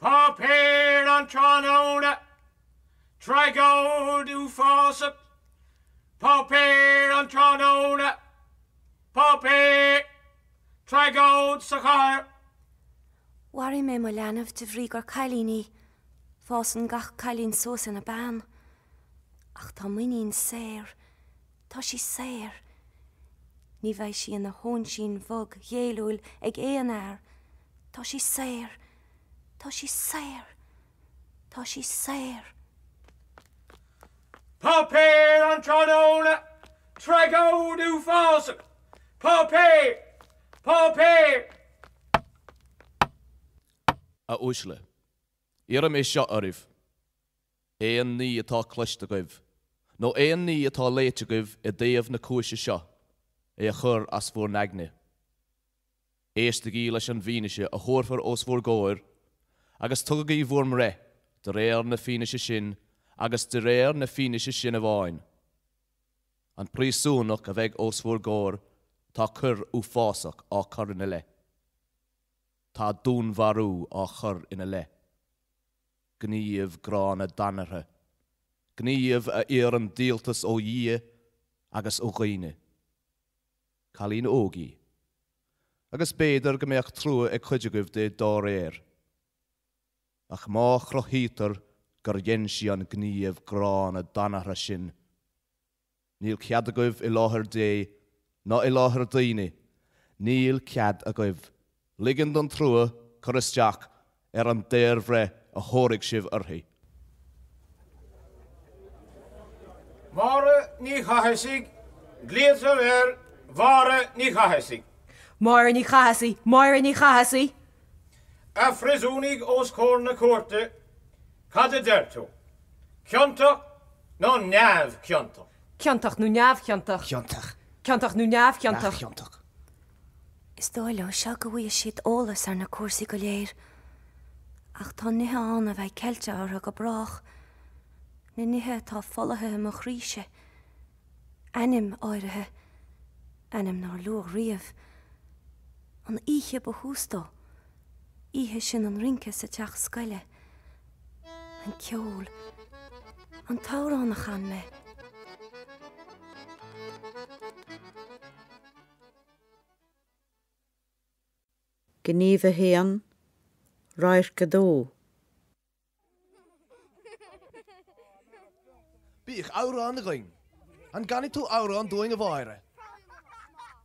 Páipéar an tráthnóna, Tragóid uafásach. Páipéar an tráthnóna, Páipéar. Tragóid sa chathair. Mharaigh mé mo leanbh de bhrí gur cailín í. Fásann gach cailín suas ina bean. Ach tá m'iníon saor. Tá sí saor. Ní bheidh sí ina hóinsín bhog ghéilliúil ag aon fhear. Tá sí saor. Tá sí saor. Tá sí saor. Páipéar an Tráthnóna, Tragóid Uafásach! Páipéar! Páipéar! A uaisle. Iarraim é seo oraibh. Aon ní atá cloiste agaibh, nó aon ní atá léite agaibh i dtaobh na cúise seo, é a chur as bhur n-aigne. Éistigí leis an bhfianaise a thabharfar os bhur gcomhair, agus tugaigí bhur mbreith de réir na fianaise sin, agus de réir na fianaise sin amháin. An príosúnach a bheidh os bhur gcomhair, tá coir uafásach á cur ina leith. Tá dúnmharú á chur ina leith. Gníomh gránna danartha. Gníomh a iarrann díoltas ó Dhia agus ó dhaoine. Cailín óg í. Agus b'fhéidir go mbeadh trua ag cuid agaibh di dá réir. Ach má chruthaítear gur dhein sí an gníomh gránna danartha sin, Níl cead agaibh i láthair Dé ná i láthair daoine, níl cead agaibh ligean don trua cur isteach ar an daorbhreith a thabharfaidh sibh uirthi. Máire Ní Chathasaigh, Glaoitear ar Mháire Ní Chathasaigh. Máire Ní Chathasaigh, Máire Ní Chathasaigh. A phríosúnaigh os comhair na cúirte, Cad a deir tú? Ciontach nó neamhchiontach? Ciontach nó neamhchiontach? Ciontach. Ciontach nó neamhchiontach? Neamhchiontach. Is dóigh leo seo go bhfaighidh siad eolas ar na cúrsaí go léir, ach tá nithe ann a bheidh ceilte orthu go brách, na nithe atá folaithe i mo chroíse, ainm áirithe, ainm nár luadh riamh, an oíche ba thús dó, oíche sin an rince sa teach scoile, an ceol, an t-amhrán a chan mé. Gníomh 1, Radharc 2. Bíodh amhrán againn. An gcanfaidh tú amhrán dúinn a Mháire?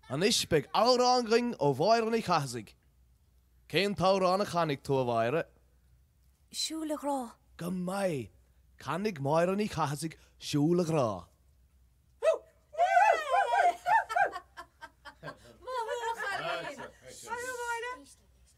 Anois beidh amhrán againn ó Mháire Ní Chathasaigh. Cén t-amhrán a chanfaidh tú, a Mháire? Siúil a Ghrá. Go maith. Canfaidh Máire Ní Chathasaigh Siúil a Ghrá.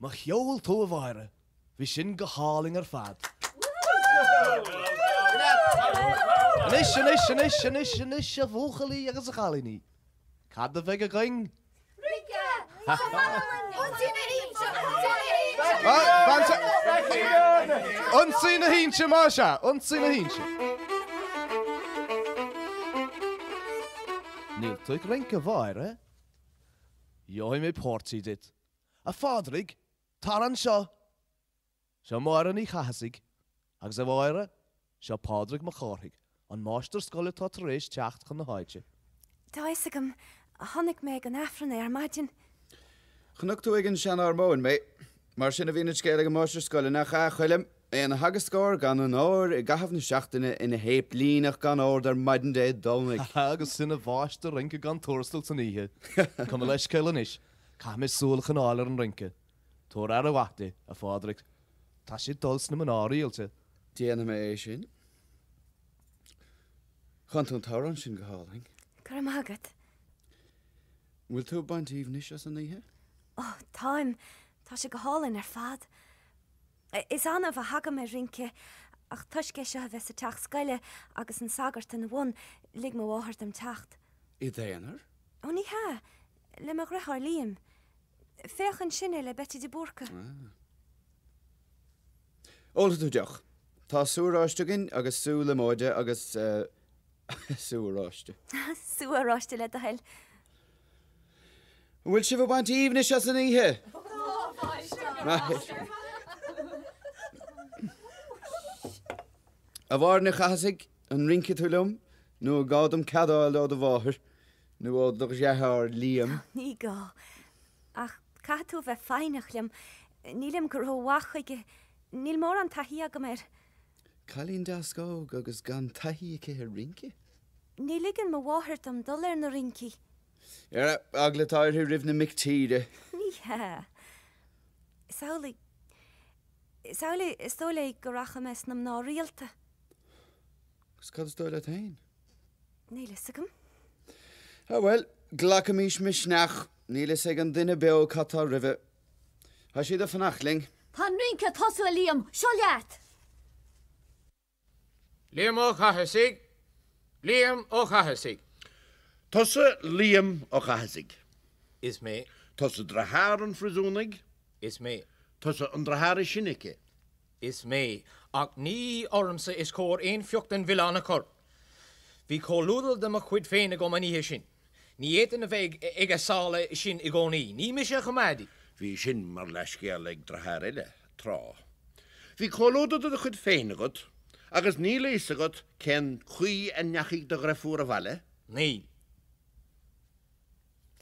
Mo cheol tú a Mháire, bhí sin go hálainn ar fad. Anois, anois, anois, anois, anois a bhuachaillí agus a chailíní, cad a bheidh againn? Rince! Ionsaí na hInse má sea, ionsaí na hInse. Níl tú ag rince a Mháire? Gheobhaidh mé páirtí duit, a Phádraig, tar anseo! Seo Máire Ní Chathasaigh, agus a Mháire, seo Pádraig Mac Cárthaigh, an máistir scoile atá tar éis teacht chun na háite. Tá fhios agam. Chonaic mé ag an Aifreann é ar maidin. Chonaic tú ag an sean-armóin mé. Mar sin a bhíonn an scéal ag an máistir scoile, nach ea, a Choilm? Ina theagascóir gan onóir i gcaitheamh na seachtaine, ina shéiplíneach gan ord ar maidin Dé Domhnaigh. agus ina mháistir rince gan tuarastal san oíche. Gabh mo leithscéal anois, caithfidh mé súil a choinneáil ar an rince. Tabhair aire mhaith di, a Phádraig. Tá sí ag dul sna mná rialta. Déanfaidh mé é sin. Chan tú an t-amhrán sin go hálainn. Go raibh maith agat. An bhfuil tú ag baint aoibhnis as an oíche? Ó, táim, tá sé go hálainn ar fad. Is annamh a thagaim ar rince ach toisc é seo a bheith sa teach scoile agus an sagart ina bhun, lig mo mháthair dom teacht. I d'aonar? Ó ní hea, le mo dheartháir Liam. Féach ansin é le Beití de Búrca. Ólfaidh tú deoch? Tá sú oráiste againn agus sú líomóide agus eh, Sú oráiste. Sú oráiste le do thoil. An bhfuil sibh ag baint aoibhnis as an oíche? A Mháire Ní Chathasaigh, an rincfidh tú liom nó an gá dom cead a fháil ó do mháthair nó ó do dheartháir Liam? Ní gá. Ach caithfidh tú a bheith foighneach liom. Nílim go ró-mhaith chuige. Níl mórán taithí agam air. Cailín deas óg agus gan taithí aici ar rince? Ní ligeann mo mháthair dom dul ar na rincí. Ara, eagla atá uirthi roimh na mic tíre. Ní hea. Is amhlaidh, is amhlaidh, is dóigh léi go rachaidh mé sna mná rialta. Agus cad is dóigh leat féin? Níl fhios agam. Ah bhuel, glacaimis misneach, níl fhios ag an duine beo cad tá roimhe. Tá siad ag fanacht linn. Tá an rince ag tosú a Liam, seo leat! Liam Ó Cathasaigh Liam Ó Cathasaigh. Tusa Liam Ó Cathasaigh. Is mé. Tusa deartháir an phríosúnaigh. Is mé. Tusa an deartháir is sine aici. Is mé, ach ní ormsa is cóir aon phioc den mhilleán a chur. Bhí comhluadar de mo chuid féin agam an oíche sin. Ní fhéadfainn a bheith ag a sála sin i gcónaí. Ní mise a choimeádaí. Bhí sin mar leithscéal ag deartháir eile, tráth. Bhí comhluadar de do chuid féin agat, agus níl a fhios agat cén chaoi a ndeachaigh do dheirfiúr abhaile? Níl.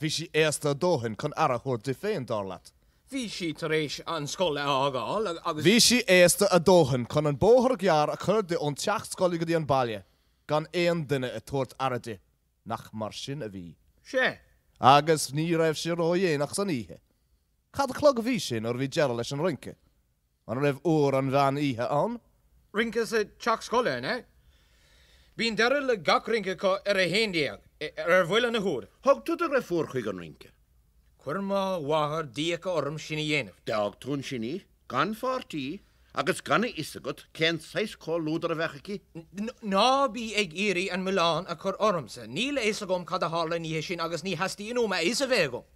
Bhí sí aosta a dóthain chun aire a thabhairt di féin, dar leat. Bhí sí tar éis an scoil a fhágáil agus. Bhí sí aosta a dóthain chun an bóthar gearr a chur di ón teach scoile go dtí an baile gan aon duine ag tabhairt aire di. Nach mar sin a bhí. Sea. Agus ní raibh sé ródhéanach san oíche. Cad a chlog a bhí sé nuair a bhí deireadh leis an rince? An raibh uair an mheán oíche ann? Rince sa teach scoile, an ea? Bíonn deireadh le gach rince acu ar a haon déag, ar bhuille na huaire. Thug tú do dheirfiúr chuig an rince? Chuir mo mháthair d'fhiacha orm sin a dhéanamh. D'fhág tú ansin í, gan pháirtí, agus gan a fhios agat cén saghas comhluadar a bheadh aici? Ná bí ag iarraidh an milleán a chur ormsa. Níl a fhios agam cad a tharla an oíche sin agus ní theastaíonn uaim a fhios a bheith agam.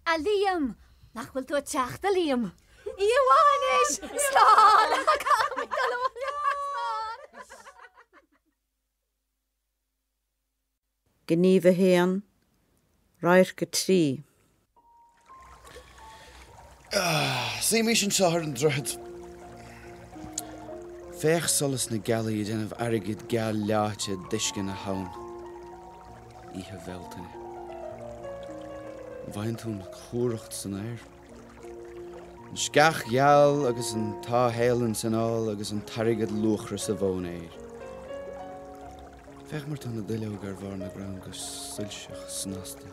A Liam! Nach bhfuil tú ag teacht, a Liam? Oíche mhaith anois! Slán! Caithfidh mé dul abhaile! Gníomh 1, Radharc 3. Suímís anseo ar an droichead. Féach solas na gealaí ag déanamh airgid geal leáite d'uisce na habhann. Oíche Bhealtaine. Bhfaigheann tú an chumhracht san aer. An sceach gheal agus an táthfhéithleann san fhál agus an t-airgead luachra sa mhóinéar. Féach mar tá na duilleoga ar bharr na gcrann go soilseach snasta.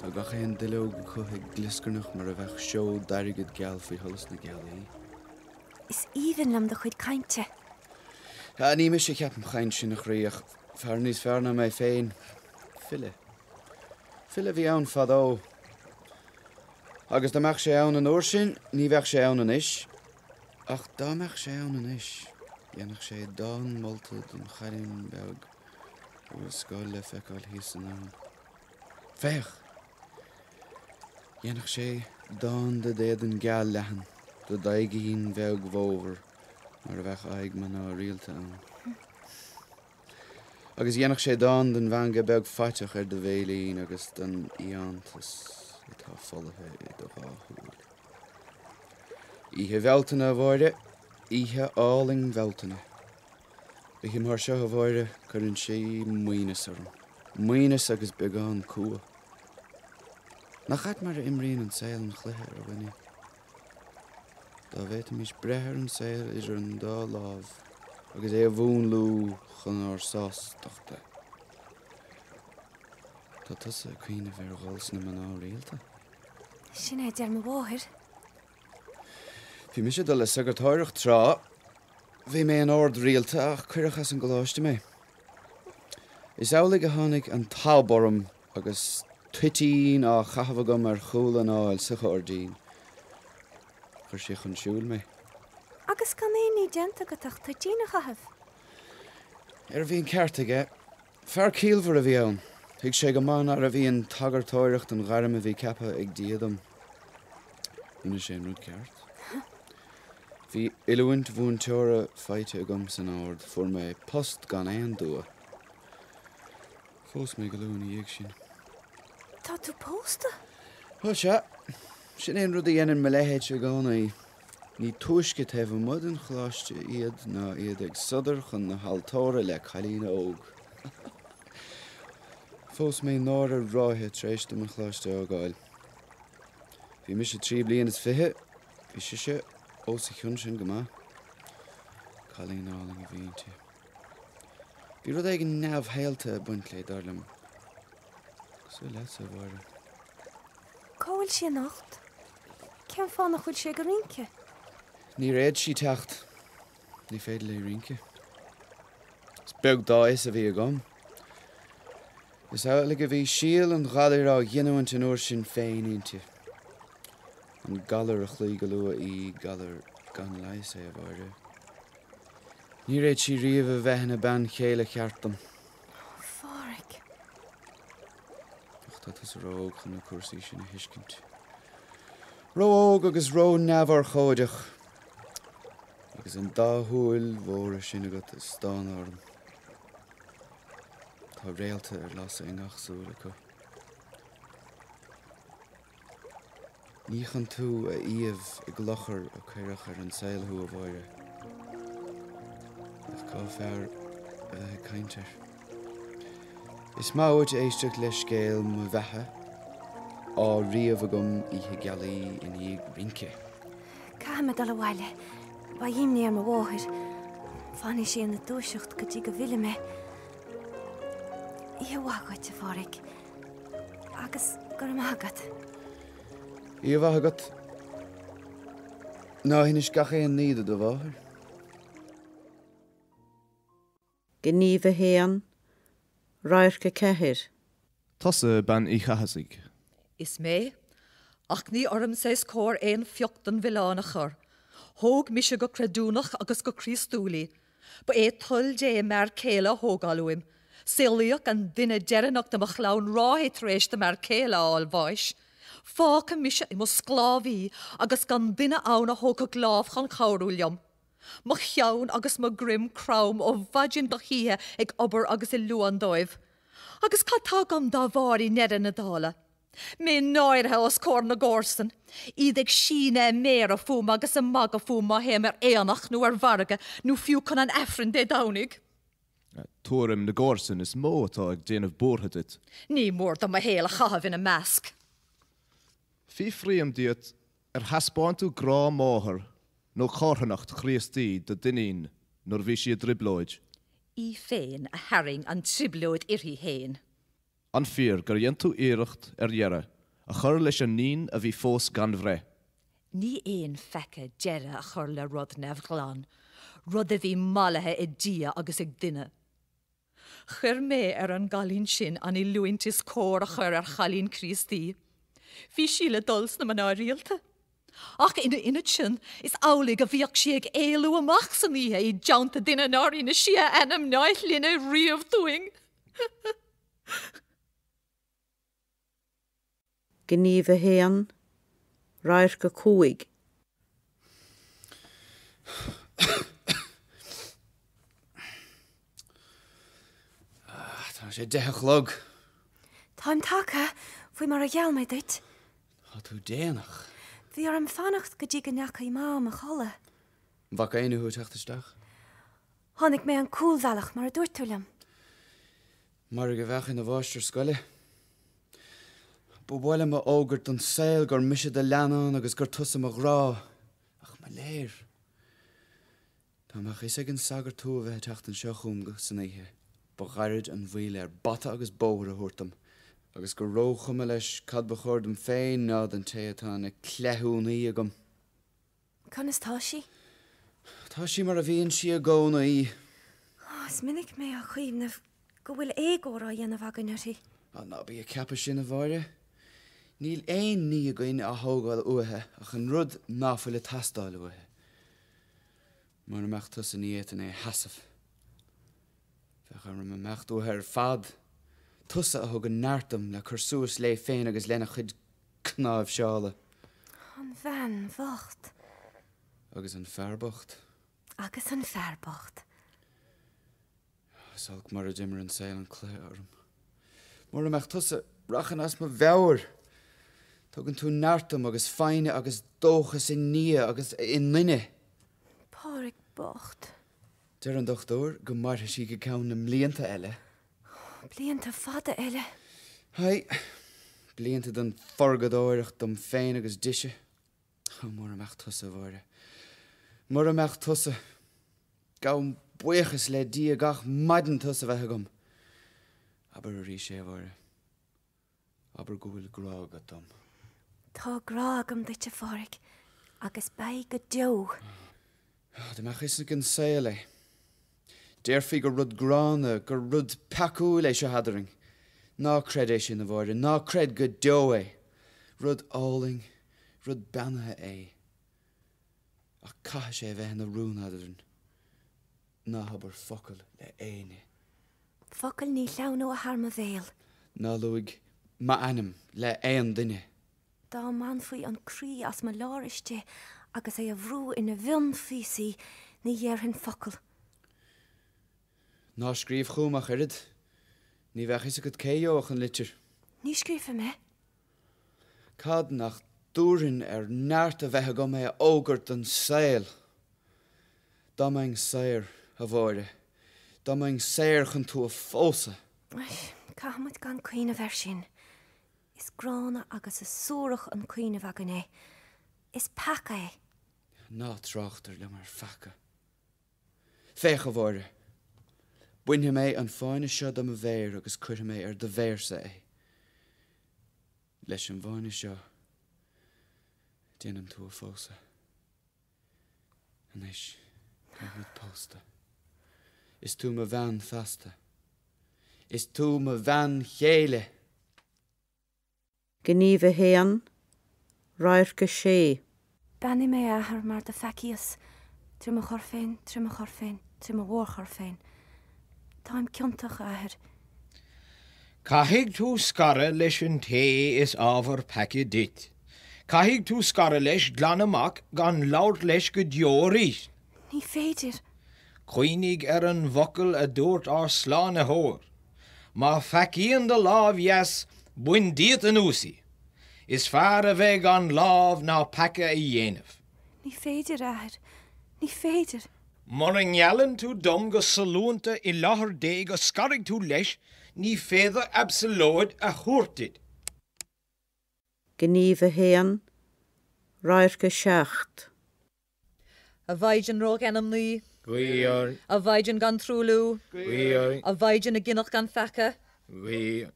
Tá gach aon duilleog acu ag glioscarnach mar a bheadh seod d'airgead geal faoi sholas na gealaí. Is aoibhinn liom do chuid cainte. Sea, ní mise a cheap an chaint sin, a chroí, ach fear níos fearr ná mé féin. File. File a bhí ann fadó. Agus dá mbeadh sé ann an uair sin, ní bheadh sé ann anois. Ach dá mbeadh sé ann anois, dhéanfadh sé dán molta don chailín beag. An bhfuil an scoil le feiceáil thíos ansin ann? Féach! Dhéanfadh sé dán de d'éadan geal leathan, do d'aghaidhín bheag mhómhar mar a bheadh aghaidh mná rialta ann. Agus dhéanfadh sé dán den mheangadh beag faiteach ar do bhéilín agus den iontas atá folaithe i do dhá shúil. Oíche Bhealtaine, a Mháire, oíche álainn Bhealtaine. Oíche mar seo, a Mháire, cuireann sé maoithneachas orm. Maoithneachas agus beagán cumha. Nach ait mar a imríonn an saol an cluiche ar dhuine? Dá bhféadfaimís breith ar an saol idir an dá lámh agus é a mhúnlú chun ár sástachta. Tá tusa ag cuimhneamh ar dhul sna mná rialta? Sin é a deir mo mháthair. Bhí mise ag dul le sagartóireacht tráth. Bhí mé in ord rialta ach cuireadh as an gcoláiste mé. Is amhlaidh a tháinig an t-ab orm agus toitín á chaitheamh agam ar chúl an fháil sa ghairdín. Chuir sé chun siúil mé. Agus gan aon ní déanta agat ach toitín a chaitheamh? Ara bhí an ceart aige. Fear ciallmhar a bhí ann. Thuig sé go maith nárbh í an tsagartóireacht an ghairm a bhí ceaptha ag Dia dom. Rinne sé an rud ceart. Bhí oiliúint mhúinteora faighte agam san Ord. Fuair mé post gan aon dua. Phós mé go luath ina dhiaidh sin. Tá tú pósta? Bhuel, sea. Sin é an rud a dhéanann mo leithéidse i gcónaí. Ní túisce taobh amuigh den choláiste iad ná iad ag sodar chun na haltóra le cailín óg. Phós mé Nóra ráithe tar éis dom an choláiste a fhágáil. Bhí mise trí bliana is fiche, bhí sise os a chionn sin go maith. Cailín álainn a bhí inti. Bhí rud éigin neamhshaolta ag baint léi, dar liom. Cosúil leatsa, a Mháire. Cá bhfuil sí anocht? Cén fáth nach bhfuil sí ag rince? Níor fhéad sí teacht. Ní féidir léi rince. Is beag dá fhios a bhí agam. Is amhlaidh a bhí síol an ghalair á ghiniúint an uair sin féin inti. An galar a chloígh go luath í, galar gan leigheas é, a Mháire. Níor fhéad sí riamh a bheith ina bean chéile cheart dom. Ach tá tusa ró-óg chun na cúrsaí sin a thuiscint. Ró-óg agus ró-neamhurchóideach. Agus an dá shúil mhóra sin agat ag stánadh orm. Tá réalta ar lasadh i ngach súil acu. Ní chun tú a iamh i gclochar a cuireadh ar an saol thú, a Mháire. Ach cá fearr a bheith ag caint air? Is maith uait éisteacht le scéal mo bheatha, á ríomh agam oíche gealaí i ndiaidh rince. Caithfidh mé dul abhaile. Beidh imní ar mo mháthair. Fanfaidh sí ina dúiseacht go dtí go bhfillfidh mé. Oíche mhaith agat, a Phádraig. Agus go raibh maith agat. Oíche mhaith agat. Ná hinis gach aon ní do do mháthair. Gníomh a haon, radharc a ceathair. Tusa bean Uí Chathasaigh? Is mé. Ach ní ormsa is cóir aon phioc den mhilleán a chur. Thóg mise go creidiúnach agus go Críostúil í. Ba é toil Dé m'fhear céile a thógáil uaim. Saolaíodh an duine deireanach de mo chlann ráithe tar éis do m'fhear céile a fháil bháis. Fágadh mise i mo sclábhaí agus gan duine ann a thógfadh lámh chun cabhrú liom. Mo cheann agus mo dhroim crom ó mhaidin go hoíche ag obair agus ag luain dóibh. Agus cad tá agam dá bharr i ndeireadh na dála? Mé náirithe os comhair na gcomharsan, iad ag síneadh a méara fúm agus ag magadh fúm má théim ar aonach nó ar mhargadh nó fiú chun an Aifrinn Dé Domhnaigh. Tuairim na gcomharsan is mó atá ag déanamh buartha duit. Ní mór dom mo shaol a chaitheamh ina measc. Fiafraím díot, ar thaispeáin tú grá máthar nó carthanacht Chríostaí do d'iníon nuair a bhí sí i dtrioblóid? Í féin a tharraing an trioblóid uirthi féin. An fíor gur dhein tú iarracht ar dheireadh a chur leis an naíon a bhí fós gan bhreith? Ní aon pheaca deireadh a chur le rud neamhghlan, rud a bhí mallaithe ag Dia agus ag duine. Chuir mé ar an gcailín sin an oiliúint is cóir a chur ar chailín Críostaí. Bhí sí le dul sna mná rialta. Ach ina ionad sin, is amhlaidh a bhíodh sí ag éalú amach san oíche i dteannta duine nár inis sí a ainm ná a shloinne riamh dúinn. Gníomh a haon, radharc a cúig. Tá sé deich a chlog. Táim tagtha, faoi mar a gheall mé duit. Tá tú déanach. Bhí orm fanacht go dtí go ndeachaigh Mam a chodladh. An bhfaca éinne thú ag teacht isteach? Tháinig mé an cúlbhealach mar a dúirt tú liom. Mairg a bheadh ina mháistir scoile. Ba mhaith liom a fhógairt don saol gur mise do leannán agus gur tusa mo ghrá, ach mo léir. Dá mbeadh fhios ag an sagart thú a bheith ag teacht anseo chugam san oíche, ba ghairid an mhoill air bata agus bóthar a thabhairt dom, agus gur róchuma leis cad ba chor dom féin ná don té atá ina cleithiúnaí agam. Conas tá sí? Tá sí mar a bhíonn sí i gcónaí. Ó, is minic mé ag cuimhneamh go bhfuil éagóir á dhéanamh againn uirthi. Á, ná bí ag ceapadh sin, a Mháire. Níl aon ní againn á thógáil uaithi ach an rud ná fuil ag teastáil uaithi. Mura mbeadh tusa ní fhéadfainn é a sheasamh. Bheadh orm imeacht uaithe ar fad. Tusa a thug an neart dom le cur suas léi féin agus lena cuid cnáimhseála. An bhean bhocht. Agus an fear bocht. Agus an fear bocht. Is olc mar a d'imir an saol an cleas orm. Mura mbeadh tusa, rachainn as mo mheabhair! Tugann tú neart dom agus foighne agus dóchas i nDia agus i nduine. Pádraic bocht. Deir an dochtúir go mairfidh sí go ceann na mblianta eile. Blianta fada eile. Aye. Blianta den phurgadóireacht dom féin agus dise. Ó, mura mbeadh tusa, a Mháire, mura mbeadh tusa. Gabhaim buíochas le Dia gach maidin tusa a bheith agam. Abair arís é, a Mháire. Abair go bhfuil grá agat dom. Tá grá agam duit, a Phádraic, agus beidh go deo. Ah, dá mbeadh fhios ag an saol é. Déarfaí gur rud gránna, gur rud peacúil é seo eadrainn. Ná creid é sin, a Mháire, ná creid go deo é. Rud álainn, rud beannaithe é. Ach caithfidh sé a bheith ina rún eadrainn. Ná habair focal le héinne. Focal ní shleamhnóidh thar mo bhéal. Ná luaigh m'ainm le aon duine. Dá mbainfí an croí as mo lár istigh agus é a bhrú ina mhionphíosaí, ní dhéarfainn focal. Ná scríobh chugam ach oiread. Ní bheadh fhios agat cé gheobhadh an litir. Ní scríobhfaidh mé. Cad nach dtabharfainn ar neart a bheith agam é a fhógairt don saol. Dá mbeinn saor, a Mháire, dá mbeinn saor chun tú a phósadh. Caithfimid gan cuimhneamh air sin. Is gránna agus is suarach an cuimhneamh againn é. Is peaca é. Ná tráchtar liom ar pheaca. Féach, a Mháire. Bainfidh mé an fáinne seo de mo mhéir agus cuirfidh mé ar do mhéirse é. Leis an bhfáinne seo déanaim tú a phósadh. Anois táimid pósta. Is tú mo bhean feasta. Is tú mo bhean chéile. Gníomh 1, Radharc 6. Beannaigh mé, a Athair, mar do pheacaíos, trí mo choir féin, trí mo choir féin, trí mo mhórchoir féin. Táim ciontach, a Athair. Caithfidh tú scaradh leis an té is ábhar peaca duit. Caithfidh tú scaradh leis, glan amach, gan labhairt leis go deo arís. Ní féidir. Cuimhnigh ar an bhfocal a dúirt ár Slánaitheoir, Má pheacaíonn do lámh dheas, bain díot anuas í. Is fearr a bheith gan lámh ná peaca a dhéanamh. Ní féidir, a Athair, ní féidir. Mura ngeallann tú dom go sollúnta i láthair Dé go scarfaidh tú leis, ní féidir absalóid a thabhairt duit. Gníomh a hAon, Radharc a Seacht. A Mhaighdean Rógheanmnaí. Guigh orainn. A Mhaighdean gan truailliú. Guigh orainn. A Mhaighdean a gineadh gan pheaca. Guigh orainn.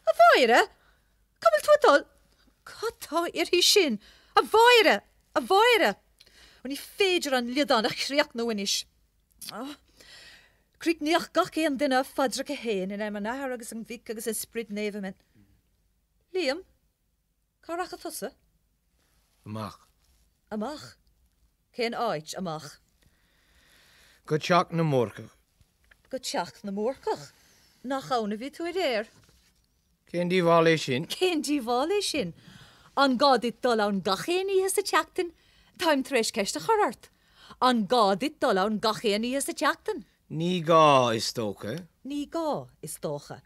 A Mháire, Cá bhfuil tú ag dul? Cad tá uirthi sin? A Mháire! A Mháire! Ó, ní féidir an liodán a chríochnú anois. Ó! Críochnaíodh gach aon duine a phaidreacha fhéin, in ainm an Athar agus an Mhic agus an Sprid Naomh, Amen. Liam, cá rachaidh tusa? Amach. Amach? Cén áit? Amach. Go teach na mBúrcach. Go teach na mBúrcach? Nach ann a bhí tú aréir? Cén díobháil é sin? Cén díobháil é sin? An gá duit dul ann gach aon oíche sa tseachtain? Táim tar éis ceist a chur ort. An gá duit dul ann gach aon oíche sa tseachtain? Ní gá, is dócha. Ní gá, is dócha.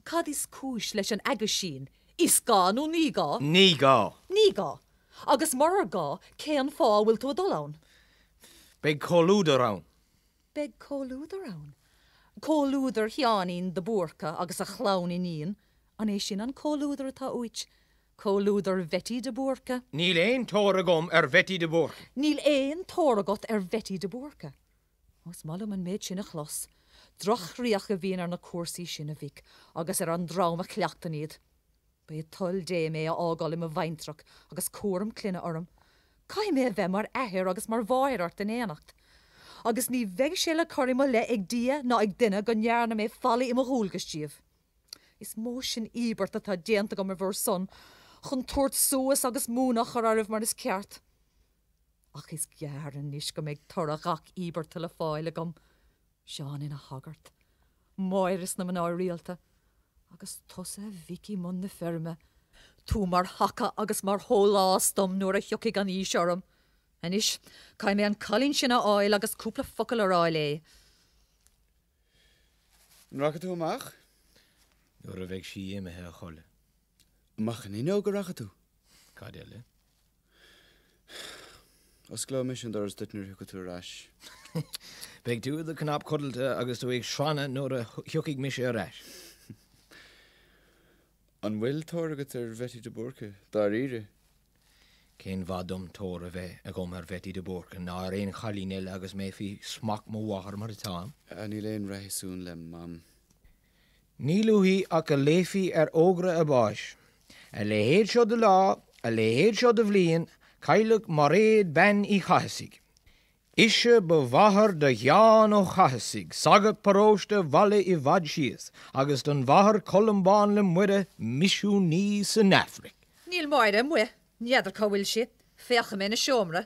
Cad is cúis leis an aguisín, is gá nó ní gá? Ní gá. Ní gá. Agus murar gá, cén fáth a bhfuil tú ag dul ann? Beidh comhluadar ann. Beidh comhluadar ann? Comhluadar Sheáinín de Búrca agus a chlann iníon? An é sin an comhluadar atá uait? Comhluadar Bheití de Búrca? Níl aon tóir agam ar Bheití de Búrca. Níl aon tóir agat ar Bheití de Búrca? Is maith liom an méid sin a chlos. Droch-chríoch a bhíonn ar na cúrsaí sin, a mhic, agus ar an dream a chleachtann iad. Ba é toil Dé mé a fhágáil i mo bhaintreach agus cúram clainne orm. Caithfidh mé a bheith mar athair agus mar mháthair ort in éineacht. Agus ní bheidh sé le cur i mo leith ag Dia ná ag duine go ndearna mé faillí i mo dhualgas daoibh. Is mó sin íobairt atá déanta agam ar bhur son, chun tabhairt suas agus múineadh a chur oraibh mar is ceart. Ach is gearr anois go mbeidh toradh ghach íobartha le fáil agam, Seán ina shagart, Máire sna mná rialta, agus tusa a mhic i mbun na feirme, tú mar thaca agus mar shólás dom nuair a thiocfaidh an aois orm. Anois, caithfidh mé an cailín sin a fháil agus cúpla focal a rá léi. An rachaidh tú amach? Nuair a bheidh sí imithe a chodladh. Amach an fhuinneog a rachaidh tú. Cad eile? Osclóidh mise an doras duit nuair a thiocfaidh tú ar ais. Beidh tú i do chnap codlata agus tú ag srannadh nuair a thiocfaidh mise ar ais. An bhfuil tóir agat ar Bheití de Búrca, dáiríre? Cén mhaith dom tóir a bheith agam ar Bheití de Búrca ná ar aon chailín eile agus mé faoi smacht mo mháthar mar atáim? Níl aon réasún le Mam. Níl uaithi ach go léifí ar fhógra a báis, 'A leithéid seo de lá, a leithéid seo de bhliain, cailleadh Mairéad Bean Uí Chathasaigh. Ise ba mháthair do Sheán Ó Cathasaigh, sagart paróiste Bhaile i bhFad Síos, agus don Mháthair Columbán le Muire, misiúnaí san Afraic. Níl Máire amuigh. N'fheadar cá bhfuil sí. Féachfaidh mé ina seomra.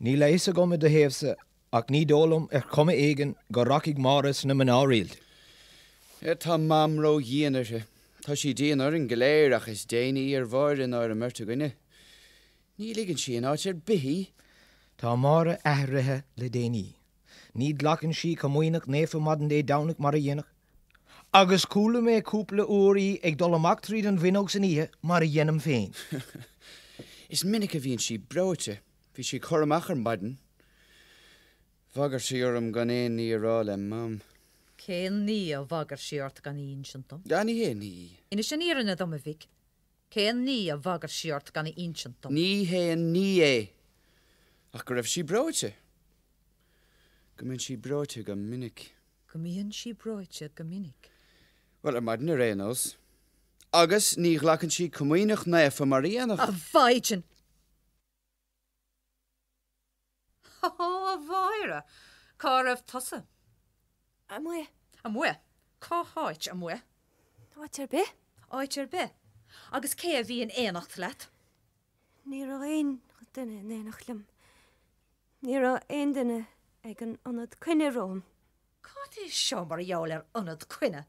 Níl a fhios agam i do thaobhsa, Ach ní dóigh liom, ar chuma éigin, go rachaidh Máire sna mná rialta. Tá Mam ró-dhian uirthi? Tá sí dian orainn go léir ach is déine í ar Mháire ná ar an mbeirt againne. Ní ligeann sí in áit ar bith í. Tá Máire athraithe le déanaí. Ní ghlacann sí Comaoineach Naofa maidin Dé Domhnaigh mar a dhéanadh. Agus chuala mé cúpla uair í ag dul amach tríd an bhfuinneog san oíche, mar a dhéanaim féin. Is minic a bhíonn sí breoite. Bhí sí ag cur amach ar maidin. Bhagair sí orm gan aon ní a rá le Mam. Cén ní a bhagair sí ort gan a insint dom? Á, ní haon ní. Inis an fhírinne dom, a mhic. Cén ní a bhagair sí ort gan a insint dom? Ní haon ní é, ach go raibh sí breoite. Go mbíonn sí breoite go minic. Go mbíonn sí breoite go minic. Bhuel, ar maidin ar aon nós. Agus ní ghlacann sí Comaoineach Naofa mar a dhéanadh. A mhaighdean! A Mháire, cá raibh tusa? Amuigh. Amuigh? Cá háit amuigh? Áit ar bith. Áit ar bith. Agus cé a bhí in éineacht leat? Ní raibh aon duine in éineacht liom. Ní raibh aon duine ag an ionad coinne romham. Cad é seo mar gheall ar ionad coinne?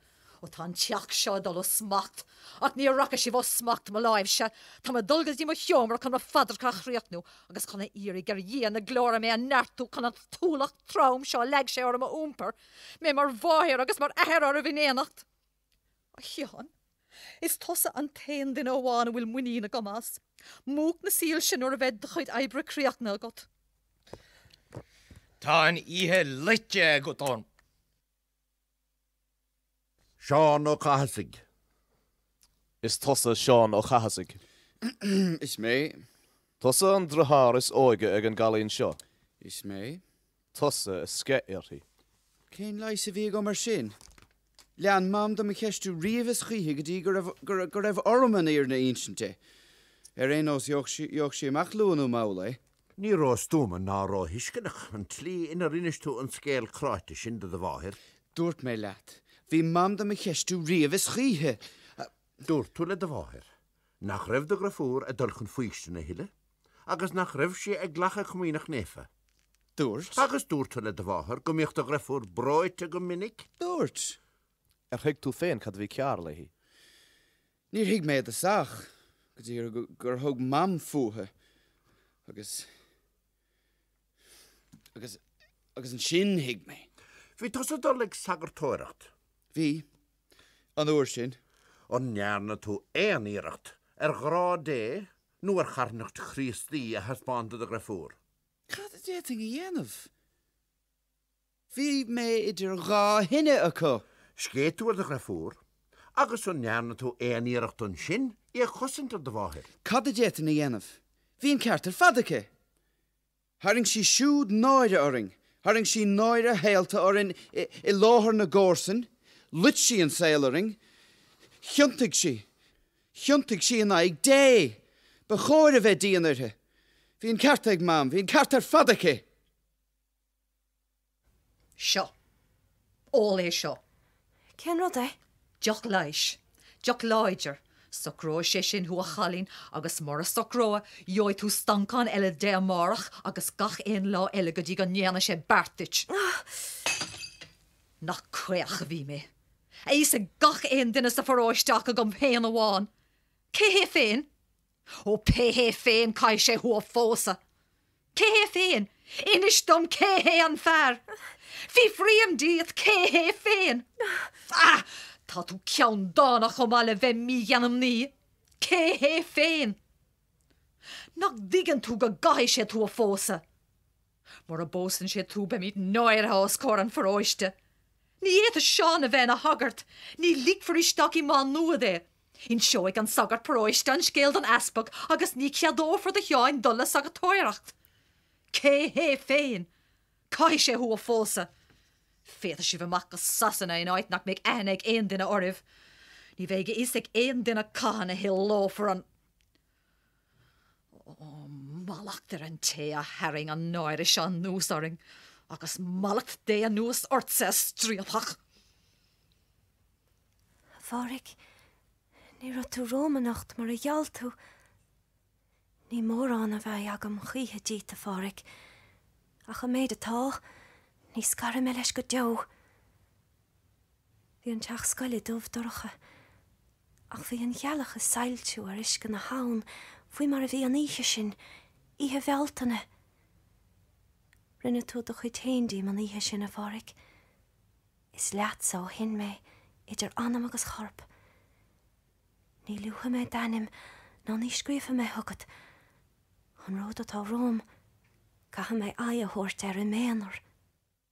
Ó tá an teach seo ag dul ó smacht. Ach ní rachaidh sibh ó smacht mo láimhse. Tá mé ag dul go dtí mo sheomra chun mo phaidreacha a chríochnú agus chun a iarraidh ar Dhia na Glóire mé a neartú chun an t-ualach trom seo a leag sé orm a iompar, mé mar mháthair agus mar athair oraibh in éineacht. A Sheáin, is tusa an t-aon duine amháin a bhfuil muinín agam as. Múch na soilse nuair a bheidh do chuid oibre críochnaithe agat. Tá an oíche loite agat orm. Seán Ó Cathasaigh. Is tusa Seán Ó Cathasaigh. Is mé. Tusa an deartháir is óige ag an gcailín seo. Is mé. tusa a sceith uirthi. Cén leigheas a bhí agam air sin? Lean Mam do mo cheistiú riamh is choíche go dtí go raibh orm an fhírinne a insint di. Ar aon nós, gheobhadh sí amach luath nó mall é. Ní róstuama ná róthuisceanach an tslí inar inis tú an scéal cráite sin do do mháthair. Dúirt mé leat, bhí Mam do mo cheistiú riamh is choíche! Dúirt tú le do mháthair, nach raibh do dheirfiúr ag dul chun faoistine a thuilleadh agus nach raibh sí ag glacadh Comaoineach Naofa. Dúirt. Agus dúirt tú le do mháthair go mbíodh do dheirfiúr breoite go minic? Dúirt. Ar thuig tú féin cad a bhí cearr léi? Níor thuig mé i dtosach, go dtí gur thug Mam fúithi agus. Agus ansin thuig mé. Bhí tusa ag dul ag sagartóireacht? Bhí, an uair sin. An ndearna tú aon iarracht ar ghrá Dé nó ar charthanacht Chríostaí a thaispeáint do do dheirfiúr? Cad a d'fhéadfainn a dhéanamh? Bhí mé idir dhá thine acu. Sceith tú ar do dheirfiúr? Agus an ndearna tú aon iarracht ansin í a chosaint ar do mháthair? Cad a d'fhéadfainn a dhéanamh? Bhí an ceart ar fad aici. Tharraing sí siúd náire orainn. Tharraing sí náire shaolta orainn i láthair na gcomharsan. Loit sí an saol orainn. Thiontaigh sí. Thiontaigh sí in aghaidh Dé. Ba chóir a bheith dian uirthi. Bhí an ceart ag Mam. Bhí an ceart ar fad aici. Seo. Ól é seo. Cén rud é? Deoch leighis. Deoch láidir. Socróidh sé sin thú a chailín agus mura socróidh, gheobhaidh tú stancán eile de amárach agus gach aon lá eile go dtí go ndéanfaidh sé beart duit. Nach caoch a bhí mé. A fhios ag gach aon duine sa pharóiste ach agam féin amháin. Cé hé féin? Ó, pé hé féin, caithfidh sé thú a phósadh. Cé hé féin? Inis dom cé hé an fear. Fiafraím díot cé hé féin. Á! Tá tú ceanndána chomh maith le bheith mígheanmnaí. Cé hé féin? Nach dtuigeann tú go gcaithfidh sé tú a phósadh? Mura bpósann sé tú beimid náirithe os comhair an pharóiste. Ní fhéadfaidh Seán a bheith ina shagart. Ní ligfear isteach i Má Nuad é. Inseoidh an sagart paróiste an scéal don easpag agus ní cheadófar do Sheán dul le sagartóireacht. Cé hé féin? Caithfidh sé thú a phósadh. Féadfaidh sibh imeacht go Sasana in áit nach mbeidh aithne ag aon duine oraibh. Ní bheidh a fhios ag aon duine cathain a shaolófar an. Ó, mallacht ar an té a tharraing an náire seo anuas orainn, agus mallacht Dé anuas ortsa, a striapach! A Phádhraic, ní raibh tú romham anocht mar a gheall tú. Ní mórán a bheidh agam choíche díot, a Phádhraic, ach an méid atá, ní scarfaidh mé leis go deo. Bhí an teach scoile dubh dorcha, ach bhí an ghealach ag soilsiú ar uisce na habhann faoi mar a bhí an oíche sin, Oíche Bhealtaine. Rinne tú do chuid féin díom an oíche sin, a Pháraic. Is leatsa ó shin mé, idir anam agus chorp. Ní luafaidh mé d'ainm ná ní scríobhfaidh mé chugat. An ród atá romham, caithfidh mé aghaidh a thabhairt air im aonar.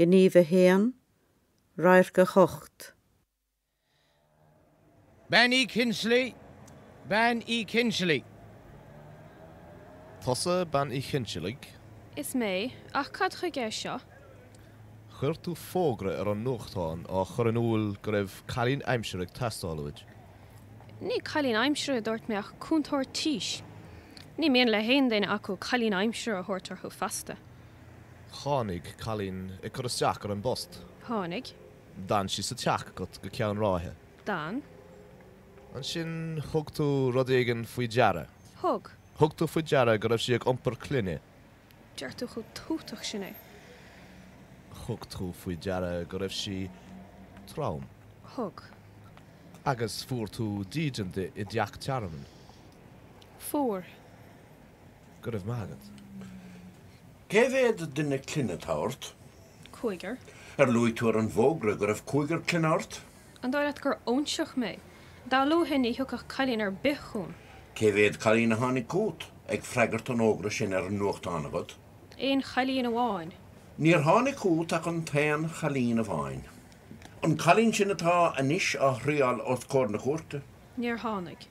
Gníomh 1, radharc 8. Bean Uí Chinsealaigh, Bean Uí Chinsealaigh. Tusa Bean Uí Chinsealaigh? Is mé, ach cad chuige é seo? Chuir tú fógra ar an nuachtán á chur in iúl go raibh cailín aimsire ag teastáil uait. Ní cailín aimsire a dúirt mé ach cúntóir tís. Ní mian le haon duine acu cailín aimsire a thabhairt orthu feasta. Tháinig cailín ag cur isteach ar an bpost. Tháinig. D'fhan sí sa teach agat go ceann ráithe. D'fhan. Ansin thug tú rud éigin faoi deara. Thug. Thug tú faoi deara go raibh sí ag iompar clainne. Deir tú chomh tútach sin é. Thug tú faoi deara go raibh sí trom. Thug. Agus fuair tú dídean di i dteach tearmainn. Fuair. Go raibh maith agat. Cé mhéad duine clainne atá ort? Cúigear. Ar luaigh tú ar an bhfógra go raibh cúigear clainne ort? An dóigh leat gur óinseach mé? Dá luafainn ní thiocfadh cailín ar bith chugam. Cé mhéad cailín a tháinig chugat ag freagairt an fhógra sin ar an nuachtán agat? Aon chailín amháin. Níor tháinig chugat ach an t-aon chailín amháin. An cailín sin atá anois á triail os comhair na cúirte. Níor tháinig.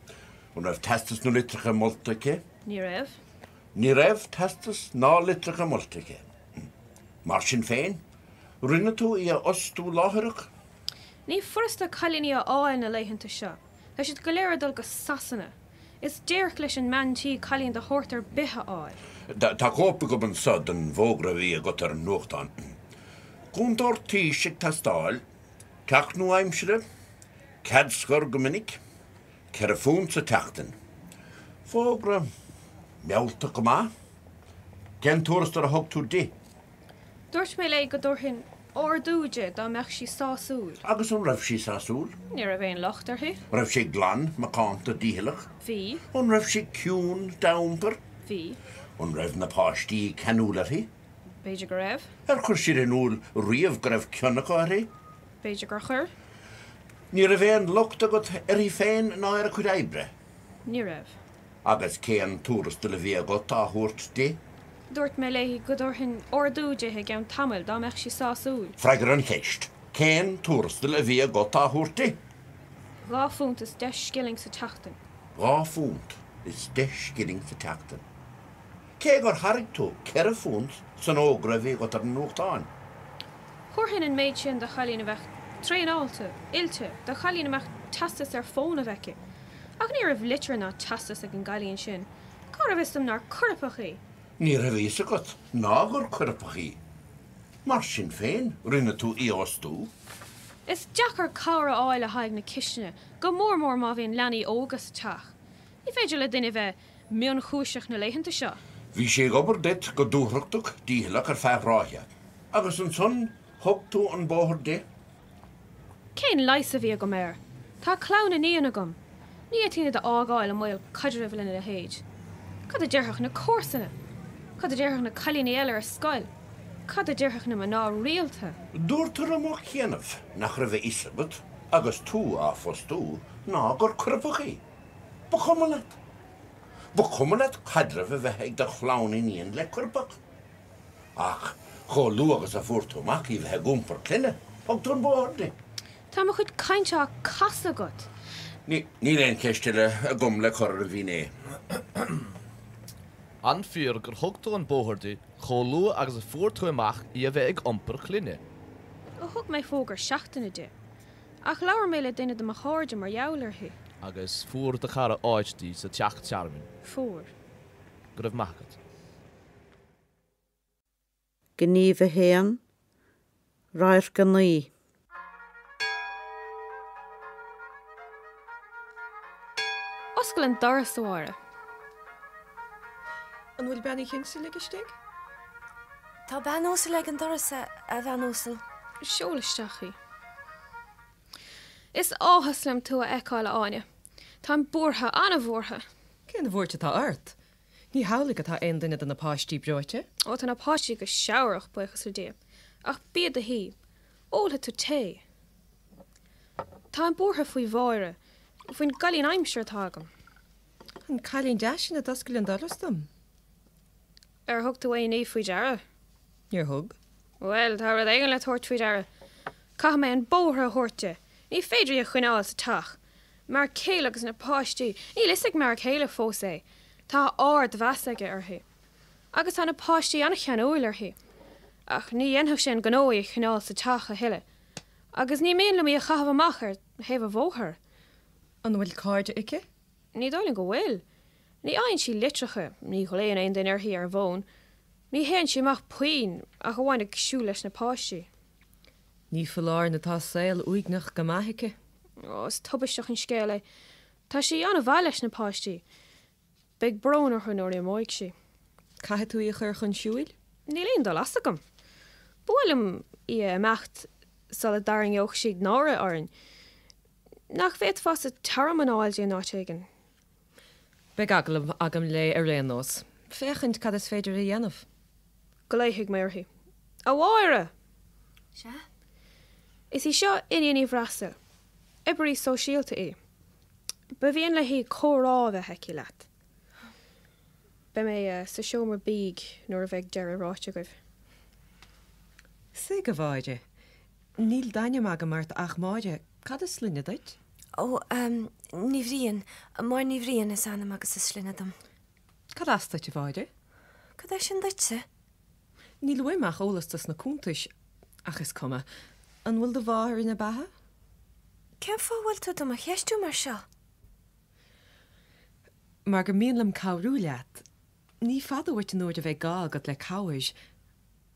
An raibh teastas nó litreacha molta aici? Ní raibh. Ní raibh teastas ná litreacha molta aici. Mar sin féin, rinne tú í a fhostú láithreach? Ní furasta cailíní a fháil na laethanta seo. Tá siad go léir ag dul go Sasana. Is déirc leis an mbean tí cailín de shórt ar bith a fháil. Tá cóip agam anseo den bhfógra a bhí agat ar an nuachtán. Cúntóir tís ag teastáil. Teach nua-aimsire? Cead scor go minic, ceithre phunt sa tseachtain. Fógra mealltach go maith. Cén tuarastal a thug tú di? Dúirt mé léi go dtabharfainn ardú di dá mbeadh sí sásúil. Agus an raibh sí sásúil? Ní raibh aon locht uirthi. Raibh sí glan, macánta, dícheallach? Bhí. An raibh sí ciúin dá iompar? Bhí. An raibh na páistí ceanúil uirthi? B'fhéidir go raibh. Ar chuir siad in iúl riamh go raibh cion acu uirthi? B'fhéidir gur chuir. Ní raibh aon locht agat uirthi féin ná ar a cuid oibre? Ní raibh. Agus cén tuarastal a bhí agat á thabhairt di? Dúirt mé léi go dtabharfainn ardú di i gceann tamaill dá mbeadh sí sásúil. Freagair an cheist. Cén tuarastal a bhí agat á thabhairt di? Dhá phunt is deich scilling sa tseachtain. Dhá phunt is deich scilling sa tseachtain. Cé gur thairg tú ceithre phunt san fhógra a bhí agat ar an nuachtán. Thabharfainn an méid sin do chailín a bheadh traenáilte, oilte, do chailín a mbeadh teastas ar fónamh aici. Ach ní raibh litir ná teastas ag an gcailín sin. Cá raibh fhios dom nár coirpeach í? Ní raibh fhios agat ná gur coirpeach í. Mar sin féin, rinne tú í a fhostú. Is deacair cabhair a fháil le haghaidh na cistine, go mór mór má bhíonn leanaí óga sa teach. Ní féidir le duine bheith mionchúiseach na laethanta seo. Bhí sí ag obair duit go dúthrachtach dícheallach ar feadh ráithe, agus ansan thug tú an bóthar di? Cén leigheas a bhí agam air? Tá clann iníon agam. Ní fhéadfainn iad a fhágáil i mbaol caidrimh lena leithéid. Cad a déarfadh na comharsana? Cad a déarfadh na cailíní eile ar scoil? Cad a déarfadh na mná rialta? Dúirt tú ar ball beag nach raibh a fhios agat agus tú á fostú ná gur coirpeach í. Ba chuma leat. Ba chuma leat caidreamh a bheith ag do chlann iníon le coirpeach. Ach chomh luath agus a fuair tú amach í a bheith ag iompar clainne, thug tú an bóthar di. Tá mo chuid cainte á casadh agat. Níl aon cheist eile agam le cur ar an bhfinné. An fíor gur thug tú an bóthar di chomh luath agus a fuair tú amach í a bheith ag iompar clainne? Ó thug mé fógra seachtaine di. Ach labhair mé le duine de mo chairde mar gheall uirthi. Agus fuair do chara áit di sa teach tearmainn? Fuair. Go raibh maith agat. Gníomh 1, Radharc 9. Oscail an doras, a Mháire. An bhfuil Bean Uí Chinsealaigh istigh? Tá bean uasal ag an doras, a bhean uasal. Seol isteach í. Is áthas liom tú a fheiceáil, a Áine. Táim buartha, an-bhuartha. Cén bhuairt atá ort? Ní hamhlaidh atá aon duine de na páistí breoite? Ó, tá na páistí go seabhrach, buíochas le Dia. Ach bí i do shuí. Ólfaidh tú tae. Táim buartha faoi Mháire, faoin gcailín aimsire atá agam. An cailín deas sin a d'oscail an doras dom. Ar thug tú aon ní faoi deara? Níor thug. Bhuel, tá rud éigin le tabhairt faoi deara. Caithfidh mé an bóthar a thabhairt di. Ní féidir í a choinneáil sa teach. M'fhear céile agus na páistí, níl 'fhios ag m'fhear céile fós é, tá ardmheas aige uirthi. Agus tá na páistí an-cheanúil uirthi. Ach ní dhéanfadh sé an gnó í a choinneáil sa teach a thuilleadh. Agus ní mian liom í a chaitheamh amach ar thaobh an bhóthair. An bhfuil cairde aici? Ní dóigh linn go bhfuil. Ní fhaigheann sí litreacha, ní ghlaonn aon duine uirthi ar an bhfón, ní théann sí amach puinn ach amháin ag siúl leis na páistí. Ní foláir nó tá saol uaigneach go maith aici. Ó, is tubaisteach an scéal é. Tá sí an-mhaith leis na páistí. Beidh brón orthu nuair a imeoidh sí. Caithfidh tú í a chur chun siúil? Níl aon dul as agam. Ba mhaith liom í a imeacht sula dtarraingeodh sí náire orainn. Nach bhféadfása tearmann a fháil di in áit éigin? Beidh agallamh agam léi ar aon nós, féachaint cad is féidir a dhéanamh. Glaofaidh mé uirthi. A Mháire! Sea? Is í seo Iníon Ní Bhreasail. Oibrí sóisialta í. Ba mhian léi comhrá a bheith aici leat. Beidh mé sa seomra bídh nuair a bheidh deireadh ráite agaibh. Suigh, a Mháire. Níl d'ainm agam ort ach Máire. Cad is sloinne duit? Ó, Ní Bhriain. Máire Ní Bhriain is ainm agus is sloinne dom. Cad as duit, a Mháire? Cad é sin duitse? Níl uaim ach eolas dos na cuntais. Ach is cuma. An bhfuil do mháthair ina beatha? Cén fáth a bhfuil tú do mo cheistiú mar seo? Mar gur mian liom cabhrú leat. Ní fada uait an uair a bheidh gá agat le cabhair.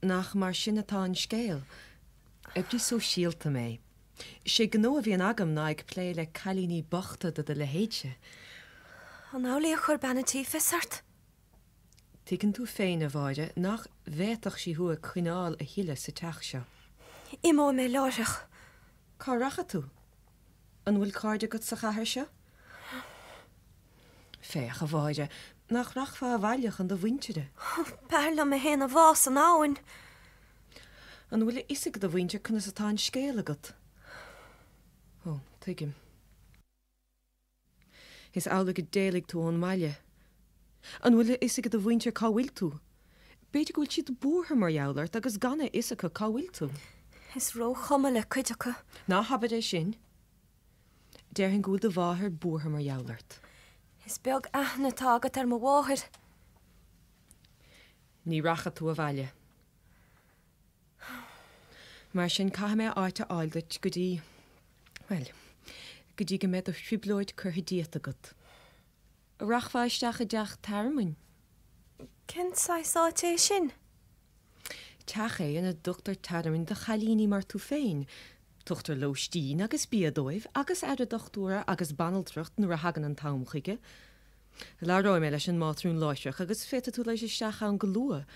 Nach mar sin atá an scéal? Oibrí sóisialta mé. 'Sé gnó a bhíonn agam ná ag plé le cailíní bochta de do leithéidse. An amhlaidh a chuir bean an tí fios ort? Tuigeann tú féin, a Mháire, nach bhféadfadh sí thú a choinneáil a thuilleadh sa teach seo. Imeoidh mé láithreach. Cá rachaidh tú? An bhfuil cairde agat sa chathair seo? Féach, a Mháire, nach rachfá abhaile chun do mhuintire? B'fhearr liom mé féin a bhá san abhainn. An bhfuil a fhios ag do mhuintir conas atá an scéal agat? Ó, tuigim. Is amhlaidh gur éalaigh tú ón mbaile. An bhfuil a fhios ag do mhuintir cá bhfuil tú? B'fhéidir go bhfuil siad buartha mar gheall ort agus gan a fhios acu cá bhfuil tú. Is róchuma le cuid acu. Ná habair é sin. Déarfainn go bhfuil do mháthair buartha mar gheall ort. Is beag aithne atá agat ar mo mháthair. Ní rachaidh tú abhaile. Mar sin, caithfidh mé áit a fháil duit go dtí, bhuel, go dtí go mbeidh do thrioblóid curtha díot agat. An rachfá isteach i dteach tearmainn? Cén saghas áit é sin? Teach é ina dtugtar tearmann do chailíní mar tú féin. Tugtar lóistín agus bia dóibh agus aire dochtúra agus banaltracht nuair a thagann an t-am chuige. Labhróidh mé leis an mátrún láithreach agus féadfaidh tú dul isteach ann go luath.